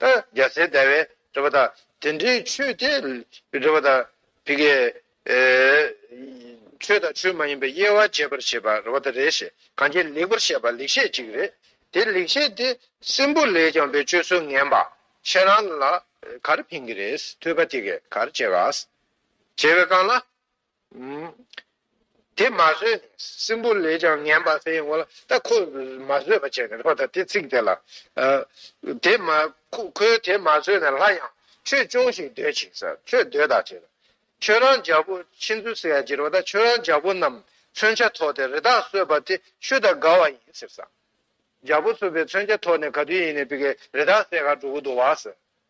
ད་རྒྱལ་སྲས་བདེ་བའི་རེ་བ་དང། དེ་འདྲའི་ཆོས་དེ་རེ་བ་དང། དེ་ཀའི་ཆོས་དང་ཆོས་མ་ཡིན་པའི་དབྱེ་བ་འབྱེད་པར་བྱེད་པ་རེ་བ་དང་རེ་ཞེས་གང་ཅིའི་ལེགས་པར་བཤད་པ་ལེགས་བཤད་ཅིག་རེད། དེ་ལེགས་བཤད་དེ་སྲིན་པོ་ལས་ཀྱང་བའི་སྤྱོད་ཚུལ་ངན་པ་ཁྱེད་རང་ལ་གར་ཕན་གི་རེད་ཐོས་པ་དེ་ཀའི་གར་བྱེད་ག། བྱེད་པའི་སྐང་ལ། དེ་མ་བཟོད་ནས་སྲིན་པོ་ལས་ཀྱང་ངན་པ་དེ་ཡོང་ལ་ད་ཁོ་མ་བཟོད་པ་བྱས་ནས་ལྷོ་ད་དེ་ཚིག་དེ་ལ། དེ་མ་ཁོས་དེ་མ་བཟོད་ནས་ལྷ་ཡང་ཁྱོད་ཅུང་ཞིག་སྡོད་ཅིག་ས་ཁྱོད་སྡོད་ད་བྱས་ལ། ཁྱོད་རང་རྒྱལ་པོ་ཕྱིན་ཚུལ་ཟེར་ཡ་གྱིར་བ་ད་ཁྱོད་རང་རྒྱལ་པོ་རྣམས་མཚོན་ཆ་ཐོགས་ཏེ་རི་དྭགས་གསོད་པ་དེ་ཆུ་དང་དགའ་བ་ཡིན་ཟེར་ས། རྒྱལ་པོ་གསོད་པའི་མཚོན་ཆ་ཐོགས་ནས་ག་དུས་ཡིན་ནས་པི་ཀའི་རི་དྭགས་སེ་ག་འགྲོ་གི་འདུག་བ་ཟེར།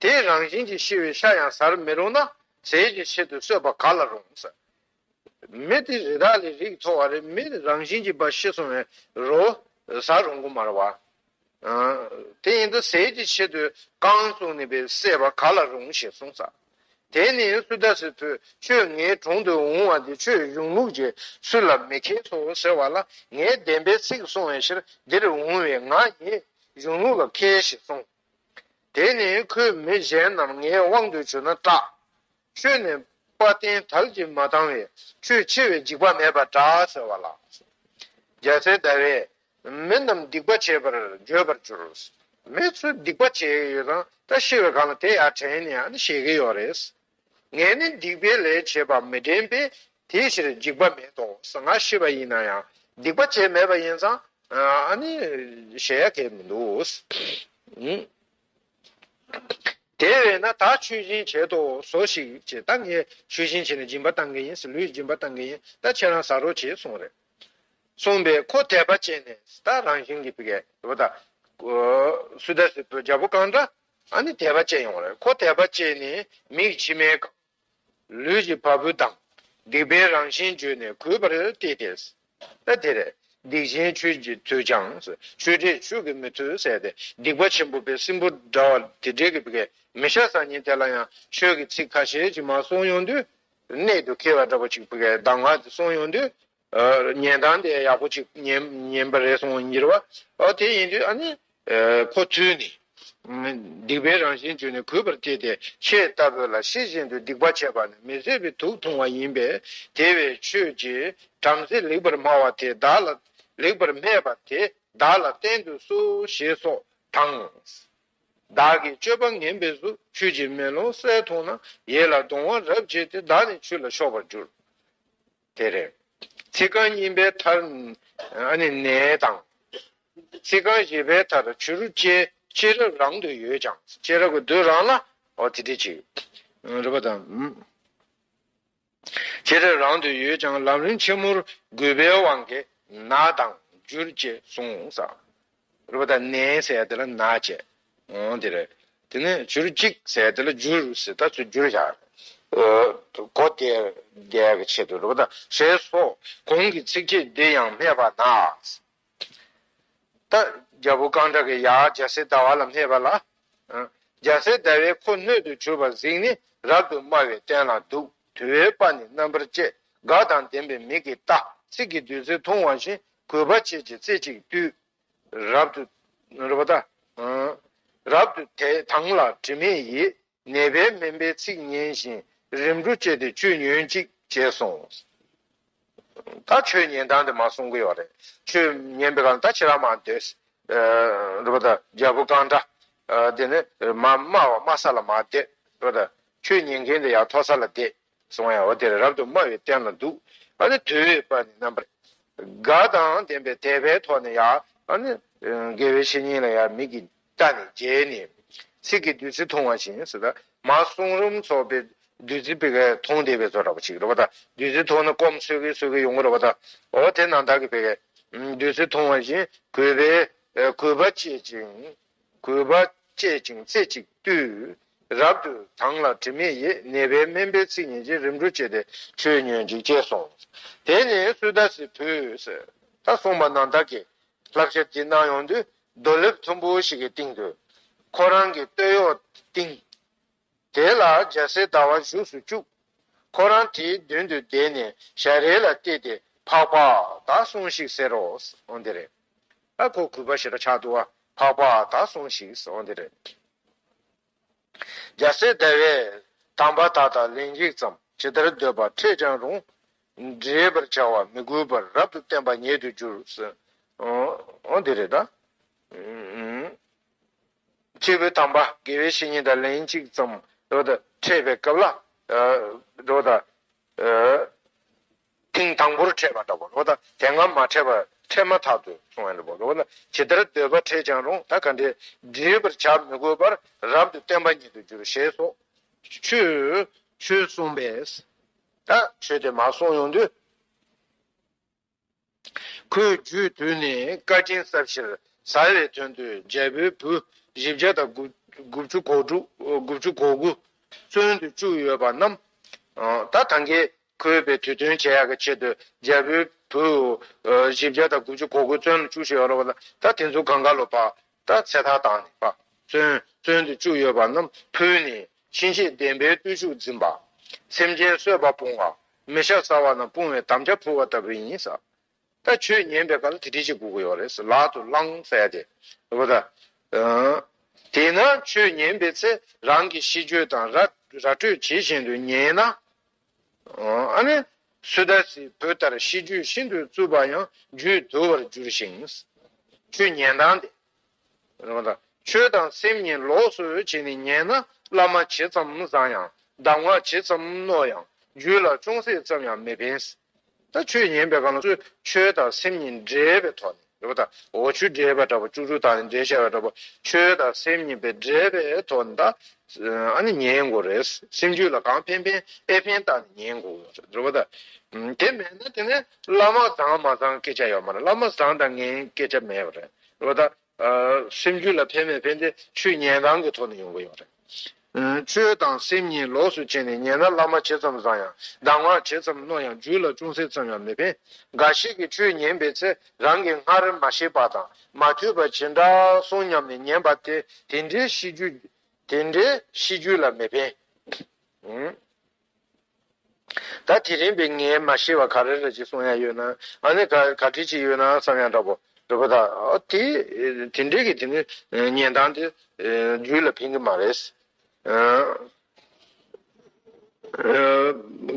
དེའི་རང་བཞིན་གྱིས་ཤི་བའི་ཤ་ཡང་ཟར་མི་རུང་ན་ཟས་ཀྱི་ཆེད་དུ་གསོད་པ་ག་ལ་རུང། མི་དེ་རི་དྭགས་ལས་རིགས་མཐོ་བ་རེད་མི་རང་བཞིན་གྱིས་འབའ་ཤི་སོང་བའི་རོ་ཟ་རུང་གི་མ་རེད། དེ་ཡིན་དུ་ཟས་ཀྱི་ཆེད་དུ་རྐང་བཙུགས་ནས་བས་བསད་པ་ག་ལ་རུང་ཞེས་གསུངས། དེ་ནི་སུ་དཱ་སི་ཕོས་ཁྱོད་ངའི་དྲུང་དུ་འོང་བ་འདི་ཆོས་གཞུང་ལུགས་ཀྱི་སུ་ལ་མི་མཁས་སོ་ཟེར་བ་ལ་ངའི་བདེན་པའི་ཚིག་གསུང་བའི་ཕྱིར་འདིར་འོང་བའི་ང་ཉིད་གཞུང་ལུགས་ལ་མཁས་ཞེས་གསུངས། དེ་ནས་ཁོས་མི་གཞན་རྣམས་ངའི་དབང་དུ་བྱོན་ན་སྐྲག། ཁྱོད་ནི་དཔའ་བརྟན་དལ་གྱིས་མ་བཏང་བས་ཁྱོད་འཆི་བའི་འཇིགས་པ་མེད་པར་གྲགས་ཟེར་བ་ལ། རྒྱལ་སྲས་ཟླ་བས་མི་རྣམས་སྡིག་པ་བྱེད་པར་བརྗོད་པར་གྱུར། མི་ཚོས་སྡིག་པ་བྱས་ཡོད་དང་བཀྲ་ཤིས་པའི་གང་ལ་དེ་ཡར་དྲན་ནས་ཞེས་ཀྱི་ཡོད་རེད། ངས་ནི་སྡིག་པའི་ལས་བྱས་པ་མི་དྲན་པས་དེའི་ཕྱིར་འཇིགས་པ་མེད་དོ་ཟང་ང་ཤི་བ་ཡིན་ན་ཡང་སྡིག་པ་བྱས་མེད་པ་ཡིན་ཙང་ནི་གཞལ་ཡས་ཁས་མི་འདུག། དེ་བས་ན་ད་ཆོས་སྦྱིན་བྱེད་དོ་ཟོ་ཞིག་ཅེས་ད་ངས་ཆོས་སྦྱིན་བྱས་ནས་སྦྱིན་པ་བཏང་གི་ཡིན་ལུས་སྦྱིན་པ་བཏང་གི་ཡིན་ད་ཁྱེད་རང་ཟ་རོགས་ཅེས་གསུངས་རེག་གསུངས་པས་ཁོ་དད་པ་བྱས་ནས་ད་རང་བཞིན་གྱིས་བགད་པ་དང། སུ་དལ་སྲིད་དུ་རྒྱལ་པོ་གང་འདྲ་ཨ་ནི་དད་པ་བསྐྱེད་ཡོང་བ་རེད་ཁོ་དད་པ་བསྐྱེད་ནས་མིག་མཆི་མའི་སྒང། ལུས་ཀྱི་བ་སྤུ་དང་སྡིག་པའི་རང་བཞིན་བརྗོད་ནས་གུས་པར་བསྟི་སྟེ། ཨ་དེ་རེད། སྡིག་ཆེན་ཁྱོད་ཀྱིས་དུས་ཀྱང་ཆོས་དྲེད་ཆོས་ཀྱི་མི་ཐུལ་ཟེར་ཏེ་སྡིག་པ་ཆེན་པོ་བའི་སྲིན་པོ་འདྲ་བ་དེ་དྲེད་ཀྱི་བགད་མི་ཤ་ཟ་ཉིན་དེ་ལ་ཡང་ཆོས་ཀྱི་ཚིག་ཁ་ཤས་ཅིག་མ་གསུང་ཡོང་དུས། གནད་དུ་ཁེལ་བ་འདྲ་པོ་ཅིག་བགད་གདམས་ངག་དེ་གསུང་ཡོང་དུས། ཉན་སྟངས་དེ་ཡག་པོ་ཅིག་ཉན་པ་རེད་སོང་གཉིས་པ། དེ་ཡིན་དུས་ཨ་ནི། ཁོ་ཚོས་ནི། སྡིག་པའི་རང་བཞིན་བརྗོད་ནས་གུས་པར་བསྐྱེད་དེ་ཆེས་ལྟ་བུ་ལ་ཤེས་བཞིན་དུ་སྡིག་པ་བྱས་པ་ནི་མི་བཟོད་པའི་དུག་འཐུང་བ་ཡིན་པས་དེ་བས་ཁྱོད་ཀྱིས་བྲམ་ཟེ་ལེགས་པར་སྨྲ་བ་དེ་བདག་ལ་ལེགས་པར་སྨྲས་པ་དེ་བདག་ལ་བསྟན་དུ་གསོལ་ཞེས་སོགས་དང། བདག་གི་སྤྱོད་པ་ངན་པའི་གཟུགས་ཁྱོད་ཀྱིས་མེ་ལོང་གསལ་མཐོང་ན་ཡིད་ལ་གདུང་བ་རབ་བྱེད་དེ་བདག་ནི་ཆུ་ལ་ཕྱོགས་པར་འགྱུར། དེ་རེད། ཚིག་རྐང་གཉིས་པའི་མཐར། ནས་དང། ཚིག་རྐང་བཞི་པའི་མཐར་བྱུ་རུ་ཅན་ཤེས་རབ་རང་དུ་ཡོད་ཀྱང་ཤེས་རབ་ཀྱི་བདུད་རང་ལ། དེ་འདི་ཅི། རེད་པ་དང། ཤེས་རབ་རང་དུ་ཡོད་ཀྱང་ལམ་རིམ་ཆེན་མོར་གུས་པའི་དབང་གིས་ན་དང་འགྱུར་ཅེས་གསུངས། རུ་བ་དང་ནས་ཟས་དེ་ལ་ན་བྱེད། འོང་དེ་རེད། དེ་ནས་བྱུར་ཅིག་ཟས་དེ་ལ་འཇུ་རུ་ཟེར་ད་ཚོད་རྒྱུ་རུ་བཞག། གོ་དེ་རྒྱལ་གྱི་ཆེད་དུ་རུ་བ་དང་ཟས་སོ། གོང་གི་ཚིགས་བཅད་འདི་ཡང་སྨྲས་པ་ན། ད་རྒྱལ་པོ་རྐང་དྲག་གི་ཡར་རྒྱལ་སྲས་ཟླ་བ་ལ་སྨྲས་པ་ལ། རྒྱལ་སྲས་ཟླ་བས་ཁོ་སྣོད་དུ་གྱུར་པ་གཟིགས་ནས་རབ་ཏུ་དམའ་བའི་སྟན་ལ་འདུག་དུ་བའི་པ་ནི་རྣམ་པར་བཅད་དགག་དང་ལྡན་པའི་མིག་གིས་ལྟ་ཚིག་གི་བདུད་རྩི་འཐུང་བ་བཞིན་གུས་པ་བྱེད་ཅིང་རྩེ་གཅིག་བཏུད། རབ་ཏུ། རབ་ཏུ། རབ་ཏུ་དད་དང་ལ་དྲི་མེད་ཡིད། ནད་པའི་སྨན་པའི་ཚིག་སྙན་ཞིང། རིམ་གྲོ་བཅས་ཏེ་བཅུད་ཉོན་ཅིག། ཅེས་གསུངས། ད་ཆོས་ཉན་སྟངས་དེ་མ་གསུང་གི་ཡོད་རེད། ཆོས་ཉན་པའི་སྐབས་ད་ཕྱི་ར་མ་སྡོད། རེད་པ་ད་རྒྱལ་པོ་རྐང་འདྲ། དེ་ནི་མ་སྨྲ་བ་སྨྲ་ས་ལ་མ་སྡོད། རེད་པ་ད། ཆོས་ཉན་མཁན་དེ་ཡར་མཐོ་ས་ལ་སྡོད། སོང་ཡང་འོད་དེ་རབ་ཏུ་དམའ་བའི་སྟན་ལ་འདུག། དུལ་བའི་པ་ནི་རྣམ་པར་དགའ་དང་ལྡན་པའི་དད་པའི་ཐོག་ནས་ཡང། དགེ་བའི་བཤེས་གཉེན་ལ་ཡང་མིག་གིས་བལྟ་ནས་བརྗེད་ནས། ཚིག་གིས་བདུད་རྩི་འཐུང་བ་བཞིན་སུ་དག་མ་གསུང་རུམ་ཚོགས་པའི་བདུད་རྩི་བེ་གའི་འཐུང་བདེ་བའི་ཚོགས་འདྲ་བ་ཅིག་རེ་བ་དང་བདུད་རྩི་འཐུང་ན་སྐོམ་གསོད་གི་གསོད་གི་ཡོང་གི་རེ་བ་དང། འོ་དེ་ན་བདག་གིས་བེ་གའི་བདུད་རྩི་འཐུང་བ་བཞིན་གུས་པས་གུས་པ་བསྐྱེད་ཅིང། གུས་པ་བསྐྱེད་ཅིང་རྩེ་གཅིག་བཏུད། རབ་ཏུ་དྭངས་ལ་དྲི་མེད་ཡེ་ནས་པའི་སྨན་པའི་ཚིག་ཉིད་ཀྱིས་རིམ་གྲོ་བྱས་ཏེ་ཆོས་ཉོན་ཅིག་ཅེས་གསུངས། དེ་ནས་སུ་དཱ་སི་བུས། ད་གསུངས་པ་ནང་དག་གི་བསླབ་བྱ་འདི་གནང་ཡོང་དུས་རྡོ་ལེབ་མཐོན་པོ་ཞིག་གི་སྟེང་དུ། ཁོ་རང་གི་སྟོད་གཡོགས་བཏིང། དེ་ལ་འཇའ་ཟེར་ཟླ་བ་བཞུགས་སུ་བཅུག། ཁོ་རང་དེའི་མདུན་དུ་བསྡད་ནས་ཞལ་རས་ལ་བལྟས་ཏེ་འཕགས་པ་དག་སོང་ཤིག་ཟེར་རོ། འོན་ཏེ་རེ། ཨ་ཁོ་གུས་པ་ཞེ་དྲག་ཕྱག་བཏུ་བ། འཕགས་པ་དག་སོང་ཤིག། འོན་ཏེ་རེ། འཇའ་ཟེར་ཟླ་བས། དམ་པ་དག་དང་ལན་གཅིག་ཙམ་ཇི་ལྟར་འདོད་པར་ཕྲད་ཀྱང་རུང། འདྲེས་པར་བྱ་བར་མི་གུས་པར་རབ་ཏུ་བསྟན་པ་ཉེ་དུ་གྱུར། འོན་ཏེ་རེ། སྐྱེས་བུ་དམ་པ་དགེ་བའི་བཤེས་གཉེན་དང་ལན་གཅིག་ཙམ་འཕྲད་པའི་སྐབས་ལ། ཐེངས་དང་པོར་འཕྲད་པ་ལྟ་བུ། དེ་སྔ་མ་འཕྲད་པ་འཕྲད་མ་ཐག་ཏུ་སོང་བ་ལྟ་བུ། ཇི་ལྟར་འདོད་པ་འཕྲད་ཀྱང་རུང་ད་ག་འདི་བསྒྲིལ་བར་བྱ་མི་དགོས་པར་རབ་ཏུ་བརྟན་པ་ཉིད་དུ་འགྱུར་ཞེས་སོགས་ཆོས་གསུངས་པས། ད་ཆོས་དེ་མ་གསུངས་ཡོང་དུས། ཁོས་རྒྱུས་དུས་ནས་བཀའ་དྲིན་གསབ་ཕྱིར་ཟ་བའི་དོན་དུ་རྒྱལ་པོའི་བུ་བཞི་བརྒྱ་དང་དགུ་བཅུ་གོ་དགུ་བཙོན་དུ་བཅུག་ཡོད་པ་རྣམས་ད་ཐང་གིས་ཁོའི་བའི་དུས་སྟོན་བྱེད་ཡག་གི་ཆེད་དུ་རྒྱལ་པོའི་བུ་བཞི་བརྒྱ་དང་དགུ་བཅུ་གོ་དགུ་བཙོན་དུ་བཅུག་ཤེས་རོགས་ད་དེ་ཚོ་གང་ག་ལོ་བ་ད་ཚེ་ཐར་བཏང་ནས་བ་བཙོན་དུ་བཅུག་ཡོད་པ་རྣམས་ཕུལ་ནས་ཕྱིན་ཆད་བདེན་པའི་བརྟུལ་ཞུགས་འཛིན་པ་སེམས་ཅན་གསོད་པ་སྤོང་བ་མི་ཤ་ཟ་བ་ན་དཔུང་བའི་དམ་རྒྱ་འཕུར་བ་ལྟ་བུ་ཡིན། ད་ཁྱོད་ཉན་པའི་སྐབས་ལ་དེ་དྲིས་ཅིག་བསྒུག་གི་ཡོད་རེད། ལག་ཏུ་བླངས་བསལ་ཏེ། བུ་ད། དེས་ན་ཁྱོད་ཉན་པའི་ཚེ་རང་གི་ཤི་གྱོད་དང་ར་སྤྲོད་བྱེད་བཞིན་དུ་ཉན་ན། ཨ་ནི། སུ་ད་སིའི་བུ་ལྟར་ཤི་གྱོད་ཤིན་ཏུ་རྩུབ་པ་ཡང་རྒྱུད་དུལ་བར་འགྱུར་ཞིང། ཁྱོད་ཉན་སྟངས་དེ། ཆོས་དང་སེམས་གཉིས་ལོགས་སུ་བྱས་ནས་ཉན་ན་བླ་མ་ཇི་ཙམ་བཟང་ཡང་གདམས་ངག་ཇི་ཙམ་རྣོ་ཡང་རྒྱུད་ལ་ཅུང་ཟད་ཙམ་ཡང་མི་ཕན། ད་ཆོས་ཉན་པའི་གང་ཟག་ཆོས་དང་སེམས་གཉིས་འདྲེས་པའི་ཐོག་ནས་འོ་ཆུ་འདྲེས་པ་འདྲ་བོ་ཅུག་ཅུག་དང་འདྲེས་བྱས་པ་འདྲ་བོ་ཆོས་དང་སེམས་གཉིས་པའི་འདྲེས་པའི་ཐོག་ནས་ད་ཉན་དགོས་རེད། སེམས་རྒྱུད་ལ་གང་ཕན་ཕན་ཨེ་ཕན་བརྟག་ནས་ཉན་དགོས་རེད། དེ་མེད་ན་དེ་ནས་བླ་མ་བཟང་མ་བཟང་སྐད་ཆ་ཡོད་མ་རེད་བླ་མ་བཟང་དང་ངན་སྐད་ཆ་མེད་པ་རེད་ལོ་ད། སེམས་རྒྱུད་ལ་ཕན་མེད་ཕན་ཏེ་ཆོས་ཉན་སྟངས་ཀྱི་ཐོག་ནས་ཡོང་གི་ཡོད་རེད། ཆོས་དང་སེམས་གཉིས་ལོགས་སུ་ཕྱེ་ནས་ཉན་ན་བླ་མ་ཇི་ཙམ་བཟང་ཡང་གདམས་ངག་ཇི་ཙམ་རྣོ་ཡང་རྒྱུད་ལ་ཅུང་ཟད་ཙམ་ཡང་མི་ཕན། འགའ་ཞིག་གིས་ཆོས་ཉན་པའི་ཚེ་རང་གིས་སྔར་མ་ཤེས་པ་དང་མ་ཐོས་པ་ཇི་འདྲ་སོང་སྙམ་ནས་ཉན་པ་དེ་དེ་འདྲའི་ཤེས་རྒྱུད་ལ་མི་ཕན། ད་དེ་རིང་པས་ངས་མ་ཤེས་པ་ག་རེ་རེ་ཅིག་གསུང་ཡ་ཡོད་ན་ཨ་ནི་ག་ག་དྲི་ཅིག་ཡོད་ན་བསམ་ཡ་འདྲ་པོ་རེད་པོ་ད་དེ་དེ་འདྲས་ཀྱི་དེ་ནི་ཉན་སྟངས་དེ་རྒྱུད་ལ་ཕན་གྱི་མ་རེད།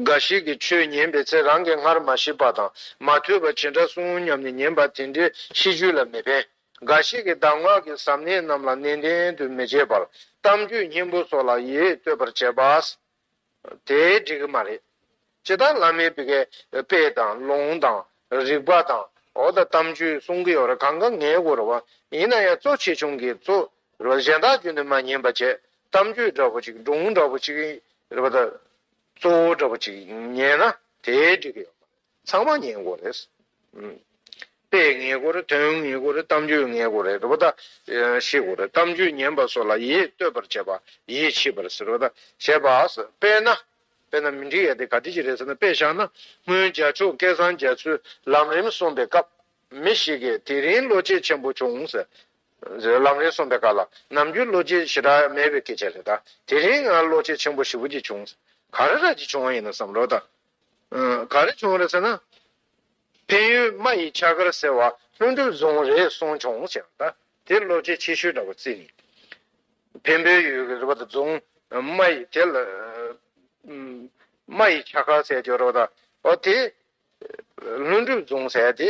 འགའ་ཞིག་གིས་ཆོས་ཉན་པའི་ཚེ་རང་གིས་སྔར་མ་ཤེས་པ་དང་མ་ཐོས་པ་ཇི་འདྲ་གསུང་སྙམ་ནས་ཉན་པ་དེ་འདྲས་ཤེས་རྒྱུད་ལ་མི་ཕན། འགའ་ཞིག་གིས་གདམས་ངག་གི་ཟབ་གནད་རྣམས་ལ་ནན་ཏན་དུ་མི་བྱེད་པར་གཏམ་རྒྱུད་སྙན་པོ་སོགས་ལ་ཡིད་གཏོད་པར་བྱེད་པ། དེ་འགྲིག་གི་མ་རེད། ཇི་ལྟར་བླ་མའི་བི་གའི་དཔེ་དང་ལུང་དང་རིགས་པ་དང་འོ་ད་གཏམ་རྒྱུད་གསུང་གི་ཡོད་རེད་གང་ག་ངའི་གོ་རེད་བ། ཡིན་ན་ཡང་གཙོ་ཆེ་ཆུང་གི་གཙོ་རེད་བ་གཞན་དག་རྒྱུད་འདི་མ་ཉན་པ་བྱས་གཏམ་རྒྱུད་འདྲ་བོ་ཅིག་སྒྲུང་འདྲ་བོ་ཅིག་རེད་བ་ད་གཙོ་བོ་འདྲ་བོ་ཅིག་ཉན་ན་དེ་འགྲིག་གི་ཡོད་མ་རེད། ཚང་མ་ཉེས་འགོ་རེད། དཔེ་ངེས་འགོ་རེད། དོན་ངེས་འགོ་རེད། གཏམ་རྒྱུད་ངེས་འགོ་རེད། རེད་དཱ། ཤེས་འགོ་རེད། གཏམ་རྒྱུད་ཉན་པ་སོགས་ལ་ཡིད་གཏོད་པར་བྱེད་པ། ཡིད་ཆེས་པར་ཟེར་རོ། བྱེད་པ། དཔེར་ན། དཔེར་ན་མི་འགྲིག་ཡ་དེ་ག་དུས་ཀྱི་རེད་ཟེར་ན་དཔེ་བཞག་ན། སྔོན་རྒྱ་མཆོག་སྐལ་བཟང་རྒྱ་མཚོས་ལམ་རིམ་གསུངས་པའི་སྐབས། མི་ཞིག་གིས་དེ་རིང་བློ་སྐྱེད་ཆེན་པོ་བྱུང་ཟེར། ལམ་རིམ་གསུངས་པའི་སྐབས་ལ་ནམ་རྒྱུན་བློ་སྐྱེད་ཞེ་དྲག་མེད་པའི་སྐད་ཆ་རེད་དཱ། དེ་རིང་ང་བློ་སྐྱེད་ཆེན་པོ་ཞེ་བོ་གཅིག་བྱུང། ག་རེ་ར་གཅིག་བྱུང་བ་ཡིན་ནམ་བསམ་རོགས། ག་རེ་བྱུང་རེད་ཟེར་ན། འཕན་ཡུལ་རྨ་ཡི་ཆ་སྒར་ཟེར་བ་ལྷུན་གྲུབ་རྫོང་རེད་གསུངས་བྱུང་ཟེར་ན། དེ་བློ་ཁྱད་ཆེ་ཤོས་འདྲ་བོ་བརྩི་ངེས། འཕན་པོའི་ཡུལ་གྱི་རེད་པ་དང་རྫོང་རྨ་ཡི་དེ་ལ། རྨ་ཡི་ཆ་སྒར་ཟེར་རྒྱུ་རེད་པ་དང། ཨོ་དེ། ལྷུན་གྲུབ་རྫོང་ཟེར་དེ།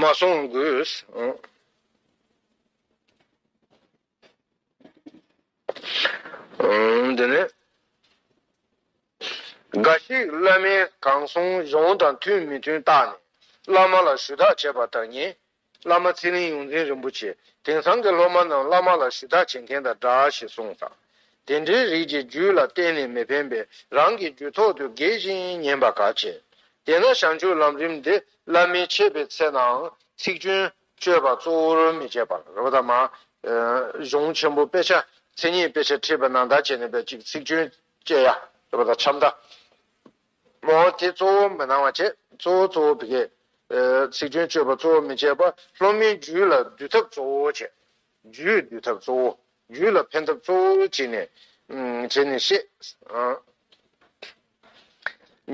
མ་སོང་དགོས། འདི་ནི། འགའ་ཞིག་བླ་མའི་གང་གསུང་གཞུང་དང་མཐུན་མི་མཐུན་བརྟགས་ནས་བླ་མ་ལ་ཞུ་དག་བྱེད་པ་དང་གཉིས། བླ་མ་ཚེ་རིང་ཡོངས་འཛིན་རིན་པོ་ཆེས་དེང་སང་གི་སློབ་མ་རྣམས་བླ་མ་ལ་ཞུ་དག་བྱེད་མཁན་དང་འདྲ་ཞེས་གསུངས་དང། དེ་འདྲའི་རིགས་ཀྱི་རྒྱུད་ལ་གཏན་ནས་མི་ཕན་པས་རང་གི་རྒྱུད་ཐོག་ཏུ་འགེལ་ཞིང་ཉན་པ་ག་བྱེད། དེས་ན་བྱང་ཆུབ་ལམ་རིམ་འདི་བླ་མའི་འཆད་པའི་ཚེ་ནའང་ཚིག་སྐྱོན་སྤྱོད་པ་གཙོ་བོར་མི་བྱེད་པར། གཞུང་ཆེན་པོ་དཔེ་ཆ་ཚན་གཉིས་དཔེ་ཆ་ཁྲིད་པ་ནང་བརྡ་བྱས་ནས་པའི་གཅིག་ཚིག་སྐྱོན་བཅད་ཡ། འཆམ་བརྡ། ལོག་ལྟ་དེ་གཙོ་བོ་མི་སྣང་བ་བྱེད། གཙོ་བོ་གཙོ་བོ་བི་ཀའི། ཚིག་དོན་སྤྱོད་པ་གཙོ་བོ་མི་བྱེད་པ། སློབ་མའི་རྒྱུད་ལ་འདུལ་ཐབས་གཙོ་བོ་བྱེད། རྒྱུད་འདུལ་ཐབས་གཙོ་བོ། རྒྱུད་ལ་ཕན་ཐབས་གཙོ་བོ་བྱེད་ནས། བྱེད་ནས་བཤད།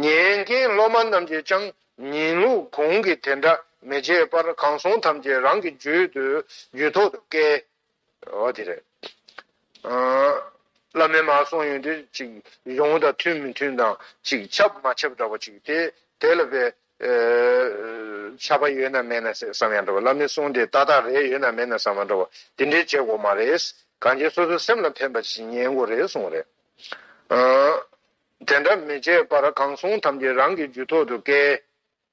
ཉན་མཁན་སློབ་མ་རྣམས་ཀྱིས་ཀྱང་ཉན་ལུགས་གོང་གི་དེ་འདྲ་མི་བྱེད་པར་གང་གསུང་ཐམས་ཅད་རང་གི་རྒྱུད་དུ་རྒྱུད་ཐོག་ཏུ་བཀལ། འོ་དེ་རེད། བླ་མའི་མ་གསུངས་ཡོད་དེ་ཅིག་གཞུང་དང་མཐུན་མི་མཐུན་དང་ཅིག་ཁྱབ་མ་ཁྱབ་འདྲ་བ་ཅིག་དེ་དེ་ལ་བས་ཁྱབ་པ་ཡོད་ན་མེད་ན་བསམ་ཡང་འདྲ་བ་བླ་མའི་གསུང་དེ་ཏག་ཏག་རེད་ཡོད་ན་མེད་ན་བསམ་ཡང་འདྲ་བ་དེ་འདྲའི་བྱེད་དགོས་མ་རེད། གང་བྱེད་སོ་སོའི་སེམས་ལ་ཕན་པ་ཞིག་ཉན་དགོས་རེད་གསུངས་རེད། དེ་འདྲ་མི་བྱེད་པར་གང་གསུང་ཐམས་ཅད་རང་གི་རྒྱུད་ཐོག་ཏུ་བཀལ།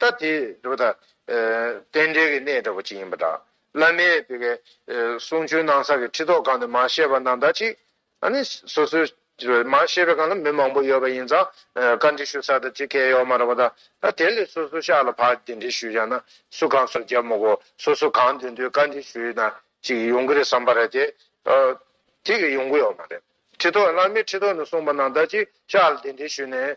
ལྟ་དེས་འདུག་ད། རྟེན་འབྲེལ་གྱི་གནས་འདྲ་བོ་ཅིག་ཡིན་པ་འདྲ། བླ་མས་དེ་གའི་གསུང་ཆོས་གནང་ས་ཀྱི་ཁྲི་ཐོག་སྒང་དུ་མ་ཤེས་པ་རྣམས་དག་ཅིག། ཨ་ནི། སོ་སོའི། མ་ཤེས་པའི་སྒང་ལ་མི་མང་པོ་ཡོད་པ་ཡིན་ཙང། བཀའ་འདྲི་ཞུ་ས་དག་ཅིག་སྐལ་ཡོད་མ་རེད་པ་ད། ད་དེ་ལས་སོ་སོ་ཤག་ལ་ཕར་དེ་འདྲི་ཞུས་ཀྱང་ན་སུ་གང་སོ་རྒྱབ་མོ་གོ། སོ་སོ་གང་འདོད་འདོད་བཀའ་འདྲི་ཞུས་ན་ཅིག་ཡོང་གི་རེད་བསམ་པ་རེད་དེ། དེ་གི་ཡོང་གི་ཡོད་མ་རེད། ཁྲི་ཐོག་བླ་མས་ཁྲི་ཐོག་ནས་གསུངས་པ་རྣམས་དག་ཅིག་ཤག་ལ་དེ་འདྲི་ཞུས་ནས།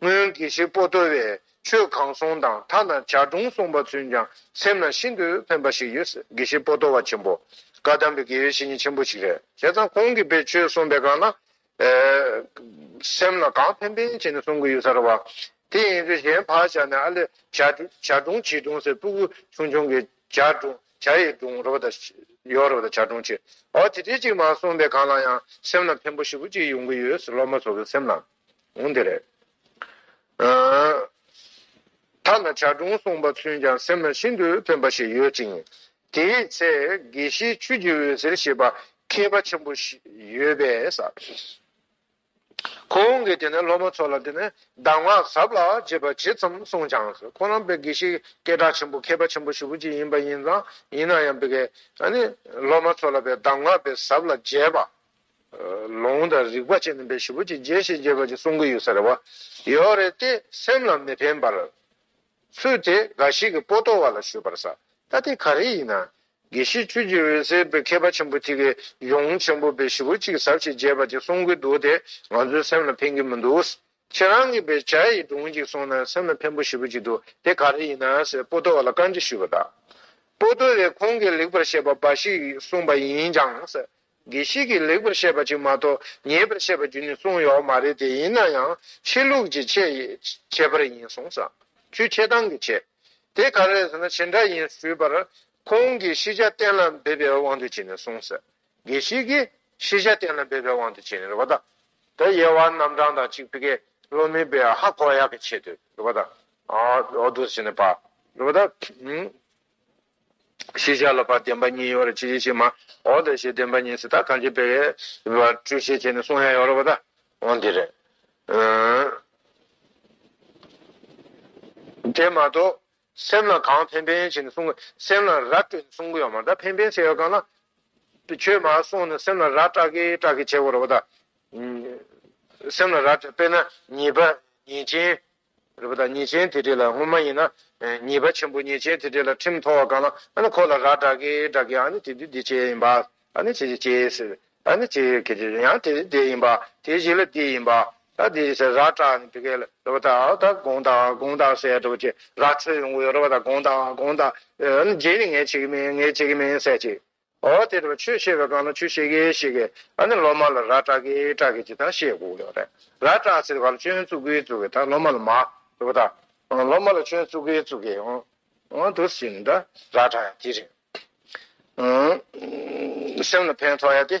སྔོན་དགེ་བཤེས་པོ་ཏོ་བས་ཆོས་གང་གསུངས་དང་མཐའ་ན་བྱ་སྒྲུང་གསུངས་པ་ཚུན་ཀྱང་སེམས་ལ་ཤིན་ཏུ་ཕན་པ་ཞིག་ཡོད་སྲིད་དགེ་བཤེས་པོ་ཏོ་བ་ཆེན་པོ་བཀའ་གདམས་པའི་དགེ་བའི་བཤེས་གཉེན་ཆེན་པོ་ཞིག་རེད་བྱས་ཙང་ཁོང་གིས་པའི་ཆོས་གསུངས་པའི་སྒང་ན་སེམས་ལ་གང་ཕན་ཕན་བྱས་ནས་གསུང་གི་ཡོད་ས་རེད་བ། དེ་ཡིན་ཚེ་གཞན་བག་ཆགས་ནས་ཨ་ལས་བྱ་སྒྲུང་བྱིས་སྒྲུང་ཟེར་སྤུ་གུ་ཆུང་ཆུང་གི་བྱ་སྒྲུང་བྱ་ཡི་སྒྲུང་རེད་བ་ད་ཡོད་རེད་བ་ད་བྱ་སྒྲུང་བྱེད་འོ་དེ་འདྲའི་ཅིག་མ་གསུངས་པའི་སྒང་ལ་ཡང་སེམས་ལ་ཕན་པོ་ཞིག་པོ་ཅིག་ཡོང་གི་ཡོད་སྲིད་སློབ་མ་ཚོ་གི་སེམས་ལ། གོང་དེ་རེད། ཐ་ན་བྱ་སྒྲུང་གསུངས་པ་ཚུན་ཀྱང་སེམས་ལ་ཤིན་ཏུ་ཕན་པ་ཞིག་ཡོད་ཅིང། དེའི་ཚེ་དགེ་བཤེས་ཆོས་ཀྱི་འོད་ཟེར་ཞེས་པ་མཁས་པ་ཆེན་པོ་ཞིག་ཡོད་པས། ཁོང་གིས་དེ་ནས་སློབ་མ་ཚོ་ལ་དེ་ནས་གདམས་ངག་ཟབ་ལ་རྒྱས་པ་ཇི་ཙམ་གསུངས་ཀྱང་ཁོ་རང་དཔེ་དགེ་བཤེས་སྐད་གྲགས་ཆེན་པོ་མཁས་པ་ཆེན་པོ་ཞིག་བུ་གཅིག་ཡིན་པ་ཡིན་ཙང་ཡིན་ན་ཡང་དཔེ་དགེ། སློབ་མ་ཚོ་ལ་དཔེ་གདམས་ངག་དཔེ་ཟབ་ལ་རྒྱས་པ། ལོང་དང་རིག་པ་ཅན་ནི་བཞི་པོ་ཅི་འཇལ་ཞེས་རྒྱས་པར་གསུང་གི་ཡོད་ཟེར་བ། ཡོད་རེད་དེ་སེམས་ལ་མི་ཕན་པར། ཚུལ་དེ་འགའ་ཞིག་གིས་པོ་ཏོ་བ་ལ་ཞུས་པར་ས་ད་དེ་ག་རེ་ཡིན་ན། དགེ་བཤེས་ཁྱོད་ཀྱི་འོད་གསལ་བའི་མཁས་པ་ཆེན་པོ་ཐིག་གི་གཞུང་ཆེན་པོ་བཞི་པོ་ཅིག་ཟབ་ཞེས་རྒྱས་པར་གྱི་གསུང་གི་འདུག་དེ་ང་ཚོའི་སེམས་ལ་ཕན་གྱི་མི་འདུག་ཁྱེད་རང་གིས་བའི་བྱ་ཡི་སྒྲུང་ཅིག་གསུང་ན་སེམས་ལ་ཕན་པོ་ཞེ་པོ་ཅིག་འདུག་དེ་ག་རེ་ཡིན་ན་ཟེར་པོ་ཏོ་བ་ལ་བཀའ་འདྲི་ཞུས་པ་དང། པོ་ཏོ་བས་ཁོང་གིས་ལེགས་པར་བཤད་པ་འབའ་ཞིག་གསུངས་པ་ཡིན་ཀྱང། དགེ་བཤེས་ཀྱིས་ལེགས་པར་བཤད་པ་གཅིག་མ་གཏོགས་ཉེས་པར་བཤད་པ་རྒྱུན་ནས་གསུངས་ཡོད་མ་རེད་དེ་ཡིན་ན་ཡང་ཆོས་ལུགས་ཀྱི་ཆེད་པར་ཡིན་གསུངས་སང་ཆོས་ཆེ་ཐང་གི་ཆེད་དེ་ག་རེད་ཟེར་ན་ཆེ་འདྲ་ཡིན་ཞུས་པར་ཁོང་གིས་ཤེས་བྱ་གཏན་ལ་འབེབས་པའི་དབང་དུ་བྱས་ནས་གསུངས་ཟེར་དགེ་བཤེས་ཀྱིས་ཤེས་བྱ་གཏན་ལ་འབེབས་པའི་དབང་དུ་བྱས་ནས་རེད་པ་དང། དེ་དབྱེ་བ་རྣམ་གྲངས་དང་གཅིག་པི་ཀའི་བློ་མིག་པའི་ཧ་གོ་ཡག་གི་ཆེད་དུ་རེད་པ་དང། འོ་དོ་ཟེར་ནས་པར་རེད་པ་དང། ཤེས་བྱ་ལ་བར་བདེན་པ་གཉིས་ཡོད་རེ་ཆེ་ཆེ་ཆེ་མ་འོ་དེ་བཞིན་བདེན་པ་གཉིས་སུ་ད་གང་ཆེ་བེ་བ་སྤྲོས་ཤེས་བྱེད་ནི་གསུང་ཡང་ཡོད་རེ་བ་ད་འོ་འདི་རེ་དེ་མ་གཏོགས་སེམས་ལ་གང་ཕན་ཕན་བྱེད་ནི་གསུང་སེམས་ལ་ར་སྤྲོས་ནི་གསུང་གི་ཡོད་མ་ད་ཕན་ཕན་བྱེད་ཡོད་གང་ལ་ཆོས་མ་གསུང་ནི་སེམས་ལ་ར་སྐྲག་གི་སྐྲག་གི་བྱེད་དགོས་རེ་བ་ད་སེམས་ལ་ར་སྤྲོས་པེ་ན་ཉེས་པ་ཉེས་ཅན་རེད་པ་དང་ཉེས་ཅན་དེ་འདྲས་ལ་སྔོན་མ་ཡིན་ན་ཉེས་པ་ཆེན་པོ་ཉེས་ཅན་དེ་འདྲས་ལ་ཁྲིམས་ཐོ་བ་གང་ལ་ཨ་ནི་ཁོ་ལ་ར་བསྒྲགས་གི་བསྒྲགས་གི་ཨ་ནི་དེ་དུས་འདི་བྱས་ཡིན་པ་ཨ་ནི་བྱས་བྱས་ཟེར་ཨ་ནི་བྱས་གལ་ཆེ་ཡང་དེ་དུས་དེ་ཡིན་པ་དེ་ཞིག་ལ་དེ་ཡིན་པ་ཨ་དེ་ཞིག་ཟེར་ར་བསྒྲགས་ནི་དེ་གས་ལ་རེད་པ་དང་ཨ་ད་དགོངས་དག་དགོངས་དག་ཟེར་འགྲོ་བ་ཆེ་ར་འཕྲོད་ཡོང་གི་ཡོད་རེད་པ་དང་དགོངས་དག་དགོངས་དག་ཨ་ནི་རྗེས་ནས་ངས་བྱེད་ཀི་མིན་ངས་བྱེད་ཀི་མིན་ཟེར་ཅིག་ཨོ་དེ་དེ་བ་ཆོས་བཤད་པའི་སྒང་ལ་ཆོས་བཤད་གི་བཤད་གི། ཨ་ནི་སློབ་མ་ལ་ར་སྐྲག་གི་སྐྲག་གི་ཅི་ཐང་བཤད་དགོས་ཀྱི་རེད། ར་སྐྲག་ཟེར་བ་ལ་ཆོས་བཙུགས་གི་བཙུགས་གི་ད་སློབ་མ་ལ་མ། དེ་བ་ད། སློབ་མ་ལ་ཆོས་བཙུགས་གི་བཙུགས་གི། ཨོ་དུ་སི་ནི་ད་ར་སྐྲག་ཡ་དེ་རེད། སེམས་ལ་ཕན་ཐོགས་ཡ་དེ།